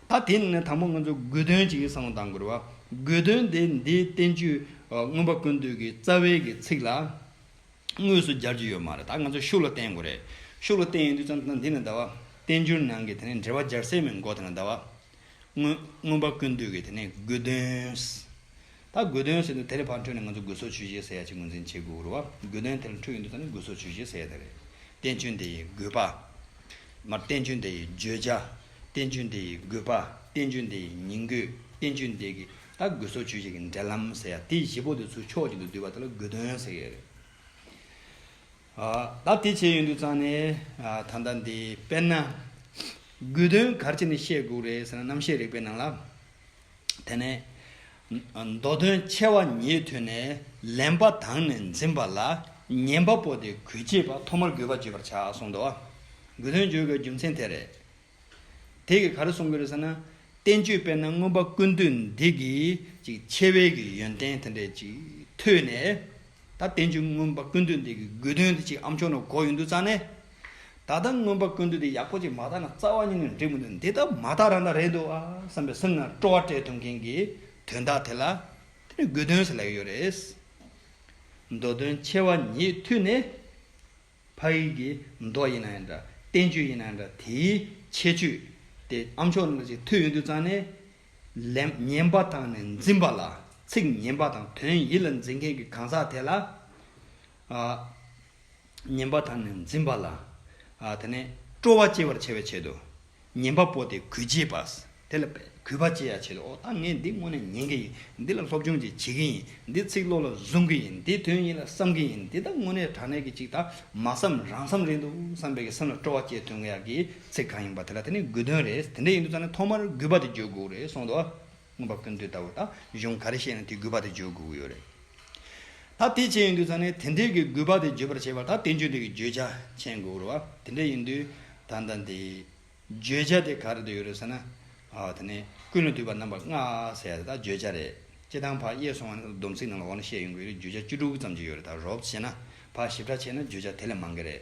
ད་དེ་ནི་དང་པོ་ང་ཚོས་དགོས་དོན་ཅིག་གསང་བ་དང་དགོས་རེད་བ། དགོས་དོན་དེ་འདིའི་བསྟན་བཅོས་མངོན་པ་ཀུན་བཏུས་ཀྱི་རྩ་བའི་གི་ཚིག་ལ། དངོས་སུ་སྦྱར་གྱི་ཡོད་མ་རེད་ད་ང་ཚོས་ཤུགས་ལ་བསྟན་དགོས་རེད་ཤུགས་ལ་བསྟན་ཡོང་དུས་ཙང་ཙང་དེ་ནི་ཟླ་བ། བསྟན་འགྱུར་ནང་གི་དེ་ནི་འགྲེལ་བ་སྦྱར་སའི་མིང་གོ་དེ་ནི་ཟླ་བ། དངོས། མངོན་པ་ཀུན་བཏུས་ཀྱི་དེ་ནི་དགོས་དོན། ད་དགོས་དོན་ཟེར་དུས་དེ་ལས་ཕར་འཕྲོས་ནས་ང་ཚོ་དགོས་ཟོག་ཇུས་གཞི་ཟེར་ཡ་གཅིག་ངོས་འཛིན་བྱེད་དགོས་རུ་བ་དགོས་དོན་དེ་ལ་འཕྲོས་ཡོང་དུས་ཙང་ནི་དགོས་ཟོག་ཇུས་གཞི་ཟེར་ཡ་དེ་རེད། བསྟན་བཅོས་འདི་ཡི་དགོས་པ། མར་བསྟན་བཅོས་འདི་ཡི་བརྗོད་བྱ། བསྟན་བཅོས་འདི་ཡི་དགོས་པ་བསྟན་བཅོས་འདི་ཡི་ཉིང་དགོས་བསྟན་བཅོས་འདི་གི་ད་དགོས་སོ་ཆོས་ཀྱི་འབྲེལ་ལམ་ཟེར་ཡ་དེ་བཞི་པོ་དེ་ཚུར་ཕྱོགས་ཅན་དུ་བསྡུས་པ་དེ་ལ་དགོས་དོན་ཟེར་ཡས་རེད། ད་དེ་བྱས་ཡོད་འདུག་ཙང་ནས་ད་ལྟ་འདི་དཔེར་ན། དགོས་དོན་གར་བྱས་ནས་བཤད་དགོས་རེད་ཟེར་ན་རྣམ་བཤད་རིག་པའི་ནང་ལ། དེ་ནས། མདོ་དོན་ཆེ་བ་ཉིད་ཐོས་ནས་ལེན་པ་དང་ནས་འཛིན་པ་ལ་ཉན་པ་པོ་དེ་གོས་བྱེད་པ་ཐོག་མར་དགོས་པ་བརྗོད་པར་བྱ་གསུངས་འདུག་དགོས་དོན་བརྗོད་དགོས་རྒྱུ་མཚན་དེ་རེད། དེ་གིས་ག་རེ་གསུང་གི་རེད་ཟེར་ན། བསྟན་བཅོས་དཔེར་ན་མངོན་པ་ཀུན་འདུས་འདི་གི་ཅིག་ཆེ་བའི་གི་ཡོན་ཏན་དེ་འདྲས་ཅིག་ཐོས་ནས། ད་བསྟན་བཅོས་མངོན་པ་ཀུན་འདུས་འདི་གི་དགོས་དོན་དེ་ཅིག་ཨ་མཆོག་ནོར་གོ་ཡོད་འདུག་ཙང་ནས། ད་ལྟ་མངོན་པ་ཀུན་འདུས་འདི་ཡག་པོ་ཅིག་མ་བརྟག་ན་རྩ་བ་ཉིད་ནས་འགྲིག་མི་འདུག་འདི་ལྟ་མ་བརྟག་རང་དང་རེད་འདུག་ཨ་བསམ་པའི་སེམས་ནང་སྤྲོ་བ་སྤྲད་ཐུབ་མཁན་གི་དོན་དག་དེ་ལ། དེ་ནི་དགོས་དོན་ཟེར་ལེགས་ཡོད་རེད། མདོ་དོན་ཆེ་བ་ཉིད་ཐོས་ནས། ཕ་ཡིག་གི་མདོག་ཡིན་ན་ཡང་འདྲ། བསྟན་བཅོས་ཡིན་ན་ཡང་འདྲ་དེའི་ཁྱད་ཆོས་དེ་ཨ་མཆོག་ནང་བཞིན་ཐོས་ཡོང་དུས་ཙང་ནས། ལན། ཉན་པ་དང་ནི་འཛིན་པ་ལ། ཚིག་ཉན་པ་དང་དོན་ཡིད་ལ་འཛིན་མཁན་གྱི་གང་ཟག་དེ་ལ། ཉན་པ་དང་ནི་འཛིན་པ་ལ། དེ་ནས་སྤྲོ་བ་སྐྱེ་བར་བྱ་བའི་ཆེད་དུ། ཉན་པ་པོ་དེ་གུས་བྱེད་པ། དེ་ལ་གུས་པ་བྱེད་ཡ་བྱེད་ལ་ཨོ་ད་ངས་འདི་དངོས་ནས་ཉན་གི་ཡིན་འདི་ལ་སློབ་སྦྱོང་ཅིག་བྱེད་ཀྱི་ཡིན་འདི་ཚིག་བློ་ལ་བཟུང་གི་ཡིན་འདི་དོན་ཡིད་ལ་བསམ་གི་ཡིན་འདི་ད་དངོས་གནས་དྲང་གནས་ཀྱི་ཅིག་ད་མ་བསམ་རང་བསམ་རེད་འདུག་བསམ་པའི་གི་སེམས་ལ་སྤྲོ་བ་བསྐྱེད་ཐོན་གི་ཡག་གི་ཚིག་གང་ཡིན་པ་དེ་ལ་དེ་ནི་དགོས་དོན་རེད་དེ་འདྲ་ཡིན་འདུག་ཙང་ནས་ཐོག་མར་གུས་པ་དེ་བརྗོད་དགོས་རེད་སོང་དུ། མངོན་པར་ཀུན་བཏུས་ལྟ་བུ་དང་གཞུང་ག་རེ་བཤད་ཡང་དེའི་གུས་པ་དེ་བརྗོད་དགོས་ཀྱི་ཡོད་རེད། ད་དེ་བྱས་ཡིན་དུས་ད་ནི་དེ་འདྲའི་གུས་པ་དེ་བརྗོད་པར་བྱེད་པར་ད་དེ་འབྱོན་དུས་ཀྱི་བརྗོད་བྱ་མཁྱེན་དགོས་ཀྱི་རེད་བ། དེ་འདྲ་ཡིན་དུས་ད་ད་དེའི་བརྗོད་བྱ་དེ་ག་རེ་དུ་ཡོད་རེད་ཟེར་ན། ད་ནི་ཀུན་ལ་བཏུས་པ་རྣམ་པ་ལྔ་ཟེར་ཡ་དེ་དག་བརྗོད་བྱ་རེད། སྤྱི་དང་བར་དབྱེ་སོང་བ་ནི་ད་སྡོམ་ཚིག་ནང་ལ་འོག་ན་བཤད་ཡོང་གི་ཡོད་རེད་བརྗོད་བྱ་བཅུ་དྲུག་ཙམ་ཅིག་ཡོད་རེད་ད་རོབ་ཅེ་ན་བར་ཞིབ་ཕྲ་བྱས་ན་བརྗོད་བྱ་དེ་ལས་མང་གི་རེད།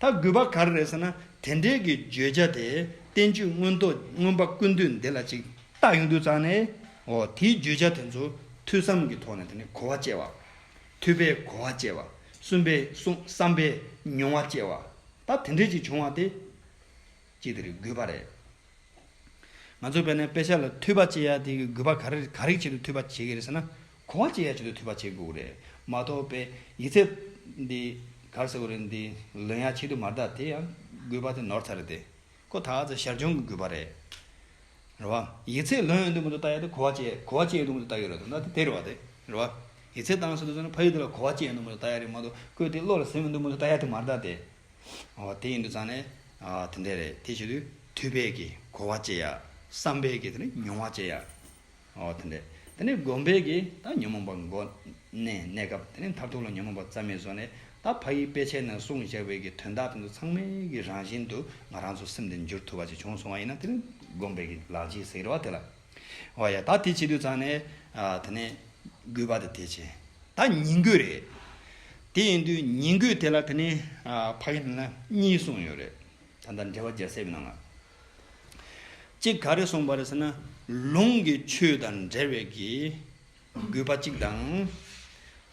ད་དགོས་པ་ག་རེ་རེད་ཟེར་ན་དེ་འབྲེལ་གྱི་བརྗོད་བྱ་དེ་བསྟན་བཅོས་མངོན་རྟོགས་ཀྱི་མངོན་པ་ཀུན་འདུས་འདི་ལ་ཅིག་བཏགས་ཡོང་དུས་ཙང་ནས་འོ་དེའི་བརྗོད་བྱ་དེ་ཚོ་ཐོས་བསམ་གྱི་ཐོག་ནས་དེ་ནས་གོ་བ་བསྐྱལ་བ། ཐོས་པས་གོ་བ་བསྐྱལ་བ། གསུམ་པས་བསམ་པས་མྱོང་བ་བསྐྱལ་བ། ད་དེ་འབྲེལ་ཅིག་བྱུང་བ་དེ། ཅི་དེ་རིགས་དགོས་པ་རེད། ང་ཚོས་བལ་ནས་དཔེ་ཆ་ལ་འཐུས་པ་བྱེད་ཡ་དེ་གི་དགོས་པ་ག་རིགས་བྱེད་དུ་འཐུས་པ་བྱེད་ཀྱི་རེད་ཟེར་ན། གོ་བ་བྱེད་ཡ་བྱེད་དུ་འཐུས་པ་བྱེད་དགོས་ཀྱི་རེད་མ་གཏོགས་དཔེ་ཡིག་ཚད་འདི་གར་ཟེར་བ་རེད་འདི་ལོན་ཡ་བྱེད་དུ་མ་གཏགས་དེ་ཡང་དགོས་པ་དེ་ནོར་ཚ་རེད་དེ་ཁོ་ད་ཚ་ཞར་སྦྱོང་གི་དགོས་པ་རེད། རེད་བ། ཡིག་ཚད་ལོན་ཡ་འདུག་མ་འདུག་བལྟ་ཡ་དེ་གོ་བ་བྱེད་ཡ་གོ་བ་བྱེད་ཡ་འདུག་མ་འདུག་བལྟ་ཡོད་རེད་དོ་ན་དེ་དེ་རེད་བ་དེ། རེད་བ། ཡིག་ཚད་བཏང་ཟེར་དུ་ཟེར་ན་ཕ་ཡུལ་དེ་ལ་གོ་བ་བྱེད་ཡ་འདུག་མ་འདུག་བལྟ་ཡ་རེད་མ་གཏོགས་བཀོད་དེ་བློ་ལ་ཟིན་ཡ་འདུག་མ་འདུག་བལྟ་ཡ་དེ་མ་རེད་ད་དེ། དེ་ཡིན་དུ་ཙང་ནས་དེ་འད་རེད་དེ་བྱེད་དུས་ཐུས་པད་ཀྱི་གོ་བ་ཅེ་ཡ་བསམ་པད་ཀྱི་དེ་ནི་མྱོང་བ་ཅེ་ཡ་དེ་འད། དེ་ནས་སྒོམ་པད་ཀྱི་ད་ཉོན་མོངས་པ་མགོ་ནས་གནས་སྐབས་དེ་ནས་མཐར་ཐུག་ལ་ཉོན་མོངས་པ་རྩ་མེད་བཟོ་ནས་ད་ཕ་ཡིས་དཔེ་ཆའི་ནང་གསུངས་བཞག་པད་ཀྱི་དོན་དག་དེ་ཚོ་ཚང་མའི་གི་རང་བཞིན་དུ་ང་རང་ཚོ་སེམས་དེ་འགྱུར་ཐུབ་པ་ཅིག་བྱུང་སོང་བ་ཡིན་ན་དེ་ནི་སྒོམ་པད་ཀྱི་ལག་རྗེས་ཟེར་བ་དེ་ལ། ཨོ་ཡ་ད་དེ་བྱེད་དུས་ཙང་ནས། དེ་ནས། རྒོད་པ་དེ་དེ་བྱེད། ད་ཉིང་རྒོད་རེད། དེ་ཡིན་དུས་ཉིང་རྒོད་དེ་ལ་དེ་ནས། ཕ་གི་ནང་ན་གཉིས་གསུངས་ཡོད་རེད། ད་ལྟ་འགྲེལ་བ་རྒྱ་བསྲེས་པའི་ནང་ལ། གཅིག་ག་རེ་གསུངས་པ་རེད་ཟེར་ན། ལུང་གི་ཆོས་དང་འབྲེལ་བའི་གི། རྒོད་པ་གཅིག་དང།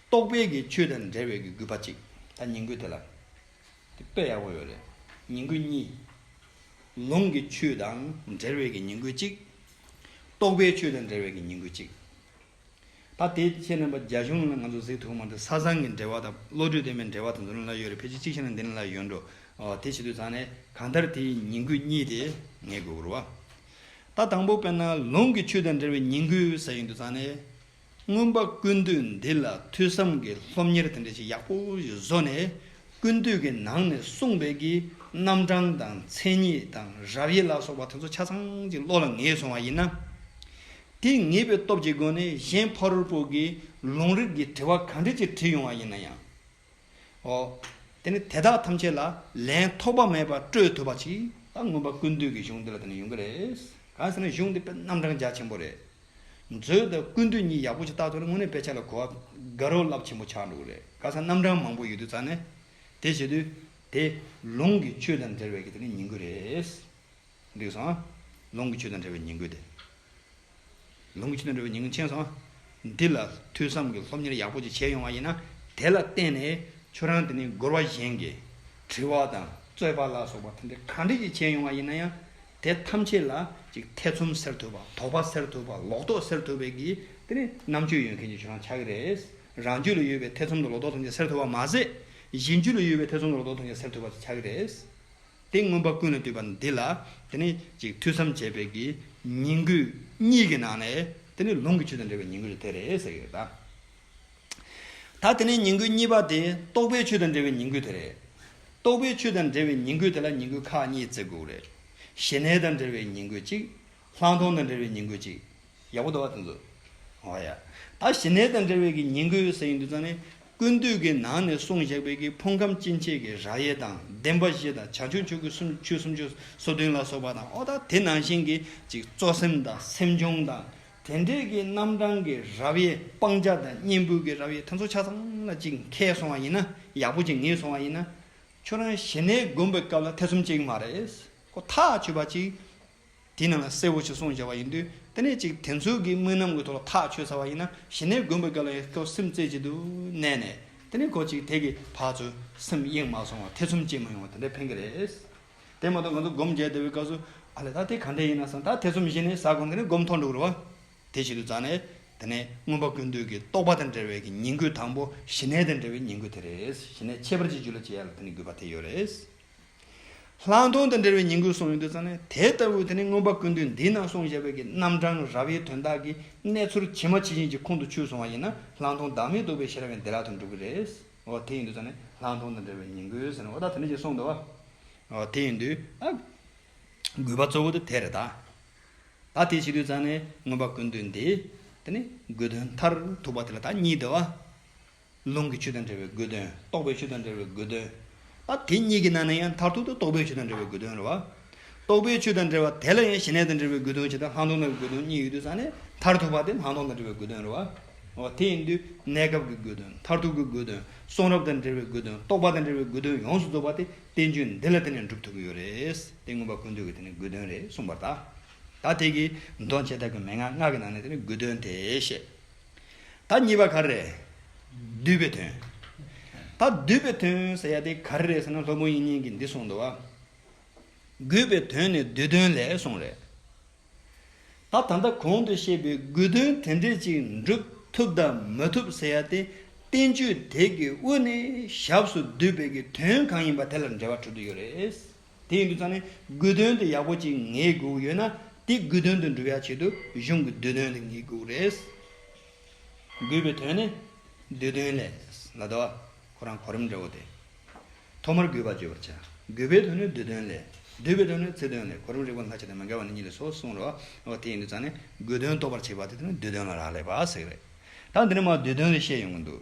རྟོག་པའི་གི་ཆོས་དང་འབྲེལ་བའི་གི་རྒོད་པ་གཅིག། ད་ཉིང་རྒོད་དེ་ལ། དེ་དཔེ་ཡག་པོ་ཡོད་རེད། ཉིང་ཁུ་གཉིས། ལུང་གི་ཆུ་དང་འབྲེལ་བའི་གི་ཉིང་ཁུ་གཅིག། རྟོགས་པའི་ཆུ་དང་འབྲེལ་བའི་གི་ཉིང་ཁུ་གཅིག། ད་དེ་ཁྱེད་རྣམ་པ་རྒྱ་གཞུང་ལ་ང་ཚོ་གཟིགས་ཐུབ་མ་འདུག་ས་བཟང་གི་འབྲེལ་བ་དང་བློ་གྲོས་ལྡན་པའི་འབྲེལ་བ་དང་འདུ་ལེན་ལ་ཡོད་རེད་ཕལ་ཆེར་གཅིག་ཤེས་ན་འདི་ནས་ལ་ཡོད་འགྲོ། དེ་བྱེད་དུས་ཚང་ནས་གང་ལྟར་དེའི་ཉིང་ཁུ་གཉིས་དེ་ངེས་དགོས་བུར་བ། ད་དང་པོ་དཔེར་ན་ལུང་གི་ཆུ་དང་འབྲེལ་བའི་ཉིང་ཁུ་ཟེར་ཡོང་དུས་ཚང་ནས། མངོན་པ་ཀུན་འདུས་འདི་ལ་ཐོས་བསམ་གྱི་སློབ་གཉེར་དེ་འདྲ་ཞིག་ཡག་པོ་ཞིག་བཟོ་ནས་ཀུན་འདུས་ཀྱི་ནང་ནས་གསུངས་པའི་གི་རྣམ་གྲངས་དང་མཚན་ཉིད་དང་རབ་དབྱེ་ལ་སོགས་པ་དེ་ཚོ་ཆ་ཚང་ཅིག་བློ་ལ་ངེས་སོང་བ་ཡིན་ན། དེ་ངེས་པའི་སྟོབས་ཀྱི་སྒོ་ནས་གཞན་ཕ་རོལ་པོ་གིས་ལུང་རིགས་ཀྱི་དྲི་བ་ག་འདྲི་ཅིག་དྲིས་ཡོང་བ་ཡིན་ན་ཡང། ཨོ། དེ་ནི་དེ་དག་ཐམས་ཅད་ལ་ལན་ཐོགས་པ་མེད་པར་སྤྲོད་ཐུབ་པ་ཅིག་ད་མངོན་པར་ཀུན་འདུས་ཀྱི་གཞུང་འདི་ལ་དེ་ནི་ཡོང་གི་རེད། གང་ཟེར་ན་གཞུང་འདི་དཔེ་རྣམ་གྲངས་རྒྱ་ཆེན་པོ་རེད། མཛོད་དང་ཀུན་འདུས་གཉིས་ཡག་པོ་ཅིག་བརྟག་ཐུབ་ན་དངོས་གནས་དཔེ་ཆ་ལ་གོ་བ་དགའ་རོགས་རླབས་ཆེན་པོ་ཆགས་འགྲོ་གི་རེད། གང་ཟེར་ན་རྣམ་གྲངས་མང་པོ་ཡོད་དུས་རྩ་ནས་དེ་བྱེད་དུས་དེ་ལུང་གི་ཆོས་དང་འབྲེལ་བའི་གི་དེ་ནི་ཡིན་གི་རེད། འདུས་སོ། ལོངས་སྐུ་ཆོས་དང་བྲལ་བའི་ཉིང་དགོས་ཏེ། ལོངས་སྐུ་ཆོས་དང་བྲལ་བའི་ཉིང་མཁྱེན་སོ། འདི་ལ་ཐོས་བསམ་གྱི་སློབ་གཉེར་ཡག་པོ་ཅིག་བྱས་ཡོང་བ་ཡིན་ན་དེ་ལ་བརྟེན་ནས་ཁྱོད་རང་དེ་ནས་སྒོར་བ་གཞན་གྱི་དྲི་བ་དང་རྩོད་པ་ལ་སོགས་པ་ཐམས་ཅད་གང་འདྲས་ཅིག་བྱས་ཡོང་བ་ཡིན་ན་ཡང་དེ་ཐམས་ཅད་ལ་ཅིག་ཐེ་ཚོམ་སེལ་ཐུབ་པ་དོགས་པ་སེལ་ཐུབ་པ་ལོག་རྟོག་སེལ་ཐུབ་པའི་གི་དེ་ནི་རྣམ་དཔྱོད་ཡོད་མཁན་གྱི་ཁྱོད་རང་ཆགས་ཀྱི་རེད། རང་རྒྱུད་ལ་ཡོད་པའི་ཐེ་ཚོམ་དང་ལོག་རྟོག་ཐམས་ཅད་སེལ་ཐུབ་པ་མ་ཟད་གཞན་རྒྱུད་ལ་ཡོད་པའི་ཐེ་ཚོམ་དང་ལོག་རྟོག་ཐམས་ཅད་སེལ་ཐུབ་པ་ཆགས་ཀྱི་རེད། དེ་མངོན་པ་ཀུན་ལ་འདུས་པ་འདི་ལ་དེ་ནི་ཅིག་ཐོས་བསམ་བྱས་པའི་གི་ཉིང་ཁུ་གཉིས་ཀྱི་ནང་ནས་དེ་ནི་ལུང་གི་ཆོས་དང་འབྲེལ་བའི་ཉིང་ཁུ་དེ་རེད་ཟེར་གི་ཡོད་ད། ད་དེ་ནས་ཉིང་ཁུ་གཉིས་པ་དེ་རྟོགས་པའི་ཆོས་དང་འབྲེལ་བའི་ཉིང་ཁུ་དེ་རེད། རྟོགས་པའི་ཆོས་དང་འབྲེལ་བའི་ཉིང་ཁུ་དེ་ལ་ཉིང་ཁུ་ཁག་གཉིས་བརྩི་དགོས་རེད། ཞི་གནས་དང་འབྲེལ་བའི་ཉིང་ཁུ་གཅིག། སླང་སྟོང་དང་འབྲེལ་བའི་ཉིང་དགོས་ཅིག། ཡག་པོ་འདུག་བ་དེ་ཚོ། ཨོ་ཡ། ད་ཞི་གནས་དང་འབྲེལ་བའི་གི་ཉིང་དགོས་ཟེར་ཡིན་དུས་ཙང་ནི། ཀུན་འདུས་ཀི་ནང་ནས་གསུངས་བཞག་པའི་གི་ཕུང་ཁམས་སྐྱེ་མཆེད་ཀི་རགས་དབྱེ་དང་བདེན་པ་བཞི་དང་བྱང་ཆུབ་ཆོས་ཀི་སུམ་ཅུ་སུམ་ཅུ་སོ་བདུན་ལ་སོགས་པ་དང་ཨོ་ད་དེ་ནང་བཞིན་གི་ཅིག་གཙོ་སེམས་དང་སེམས་བྱུང་དང་དེ་འདྲའི་གི་རྣམ་གྲངས་ཀི་རབ་དབྱེ་སྤང་བྱ་དང་གཉེན་པོའི་གི་རབ་དབྱེ་དེ་ཚོ་ཆ་ཚང་ལ་ཅིག་མཁས་སོང་བ་ཡིན་ན་ཡག་པོ་ཅིག་ངེས་སོང་བ་ཡིན་ན། ཁྱོད་རང་ཞི་གནས་དགོན་པའི་སྐབས་ལ་ཐེ་ཚོམ་ཅིག་མ་རེད། ཁོ་ཐག་ཆོད་པ་ཅིག། དེ་རྣམས་ལ་སྲས་བུ་ཞེས་གསུངས་བྱ་བ་ཡིན་དུས་དེ་ནས་ཅིག་དེ་ཚོའི་གིས་དམུས་ནམ་གྱི་ཐོག་ལ་ཐག་ཆོད་ཚར་བ་ཡིན་ན་གཞི་ནས་མགོན་པོ་སྐལ་བ་ཡི་སྐབས་སེམས་རྩེ་གཅིག་ཏུ་གནས་ནས་དེ་ནས་གོ་ཅིག་དེ་གི་བར་ཚོའི་སེམས་གཡེང་མ་སོང་བར་ཐེ་ཚོམ་སྐྱེས་མ་ཡོང་བ་དེ་འདྲ་ཕན་གི་རེད། དེ་མ་གཏོགས་ང་ཚོ་སྒོམ་རྒྱལ་སྡེ་བའི་སྐབས་སུ་ཨ་ལས་ད་དེ་ག་འདྲ་ཡིན་ན་བཟང་ད་ཐེ་ཚོམ་ཞི་ནས་ཟ་དགོ་དེ་ནས་སྒོམ་ཐོག་འགྲོ་དགོས་རེད་བ། དེ་བྱེད་དུ་བརྫ་ནས་དེ་ནས་མངོན་པ་ཀུན་འདུས་ཀྱི་རྟོགས་པ་དང་འབྲེལ་བའི་གི་ཉིང་ཁུ་དང་པོ་ཞི་གནས་དང་འབྲེལ་བའི་ཉིང་ཁུ་དེ་རེད་ཞི་གནས་ཁྱད་པར་ཅི་རྒྱུད་ལ་སྤྱད་ཡ་ལ་དེ་ནི་དགོས་པ་དེ་ཡོད་རེད། ལྷག་མཐོང་དང་འབྲེལ་བའི་ཉིང་དགོས་གསུངས་ཡོད་འདུག་ཙང་ནས་དེ་ལྟ་བུའི་དེ་ནས་མངོན་པ་ཀུན་འདུས་འདི་ནང་གསུངས་བཞག་པའི་གི་རྣམ་གྲངས་རབ་དབྱེའི་དོན་དག་གི་གནས་ཚུལ་ཇི་མ་ཇི་བཞིན་གྱི་ཁུངས་དུ་ཆུད་སོང་བ་ཡིན་ན་ལྷག་མཐོང་བདག་མེད་འདུག་པའི་ཤེས་རབ་ཡང་བདེ་བླག་ཏུ་འགྲུབ་གི་རེད། འོ་དེ་ཡིན་དུས་ཙང་ནས་ལྷག་མཐོང་དང་འབྲེལ་བའི་ཉིང་དགོས་ཟེར་ནས་འོ་ད་དེ་འདྲ་ཞིག་གསུངས་འདུག་བ། འོ་དེ་ཡིན་དུས་ཨ། དགོས་པ་གཙོ་བོ་དེ་དེ་རེད་ད། ད་དེ་བྱེད་དུས་ཙང་ནས་མངོན་པ་ཀུན་འདུས་འདི་དེ་ནས་དགོས་དོན་མཐར་ཐུག་པ་དེ་ལ་ད་གཉིས་འདུག་བ། རླུང་གི་ཆུ་དང་འབྲེལ་བའི་དགོས་དོན། རྟོག་པའི་ཆུ་དང་འབྲེལ་བའི་དགོས་དོན། ཨ། དེ་གཉིས་ཀྱི་ནང་ནས་ཡང་མཐར་ཐུག་ཏུ་རྟོག་པའི་ཆུ་དང་འབྲེལ་བའི་དགོས་དོན་རེད་བ། རྟོག་པའི་ཆུ་དང་འབྲེལ་བ་དེ་ལ་ཡང་ཞི་གནས་དང་འབྲེལ་བའི་དགོས་དོན་བྱེ་བྲག་ལྷག་མཐོང་དང་གི་དགོས་དོན་གཉིས་ཡོད་དུས་སང་ནས་མཐར་ཐུག་པ་དེ་ལྷག་མཐོང་དང་འབྲེལ་བའི་དགོས་དོན་རེད་བ། འོ་དེ་ཡིན་དུས་གནས་སྐབས་ཀྱི་དགོས་དོན་མཐར་ཐུག་གི་དགོས་དོན་གསུང་རབ་དང་འབྲེལ་བའི་དགོས་དོན་རྟོག་པ་དང་འབྲེལ་བའི་དགོས་དོན་ཡོངས་སུ་རྫོགས་པ་དེ་བསྟན་བཅོས་འདི་ལ་བརྟེན་ནས་འགྲུབ་ཐུབ་ཀྱི་ཡོད་རེད་དེ་མངོན་པ་ཀུན་འདུས་ཀྱི་དེ་ནི་དགོས་དོན་རེད་གསུངས་པར་གདའ། ད་དེ་གིས་མདོ་བྱེ་བྲག་གི་མན་ངག་ལྔ་གི་ནང་ནས་དེ་ནི་དགོས་དོན་དེ་ཤེས། ད་གཉིས་པ་ག་རེ་རེད། བསྡུས་པའི་དོན། ད་བསྡུས་པའི་དོན་ཟེར་ཡ་དེ་ག་རེ་རེད་ཟེར་ན་ལྷོ་མོ་ཡིན་ཉན་གི་འདི་གསུངས་འདུག་ཨ། རྒུད་པའི་དོན་ནི་བསྡུས་དོན་ལས་གསུངས་རེད། ད་ད་ལྟ་གོང་དུ་བཤད་པའི་རྒུད་དོན་དེ་འདྲས་ཅིག་འགྲུབ་ཐུབ་དང་མི་ཐུབ་ཟེར་ཡ་དེ་བསྟན་བཅོས་དེ་གི་དབུ་ནས་ཞབས་སུ་བསྡུས་པའི་གི་དོན་གང་ཡིན་པ་དེ་ལ་འབྲེལ་བ་གྲུབ་ཏུ་ཡོད་རེད། དེ་ཡིན་དུ་ཙང་ནས་དགོས་དོན་དུ་ཡག་པོ་གཅིག་ངེས་དགོས་ཡོད་ན་དེ་དགོས་དོན་དུ་འགྲུབ་ཡག་ཆེད་དུ་གཞུང་གི་འདོད་དོན་དེ་ངེས་དགོས་རེད། དགོས་པའི་དོན་ནི་འདོད་དོན་ལས་ལ་དོ། ཁོ་རང་གོ་རིམ་འདྲ་བོ་དེ། ཐོག་མར་དགོས་པ་བརྗོད་པར་བྱ། དགོས་པའི་དོན་ནི་འདོད་དོན་ལས། འདོད་པའི་དོན་ནི་ཚིག་དོན་ལས་གོ་རིམ་རིག་པ་ལྷ་ཆེ་དང་མི་འགལ་བ་ནི་གཉིས་ལས་སོ་གསུངས་རོ། འོ་དེ་ཡིན་དུ་ཙང་ནས་དགོས་དོན་རྟོགས་པར་བྱེད་པ་དེ་དེ་ནི་འདོད་དོན་ལ་རག་ལས་པ་ཟེར་གི་རེད། ད་འདི་ནས་མ་འདོད་དོན་རེ་བཤད་ཡོང་གི་འདུག།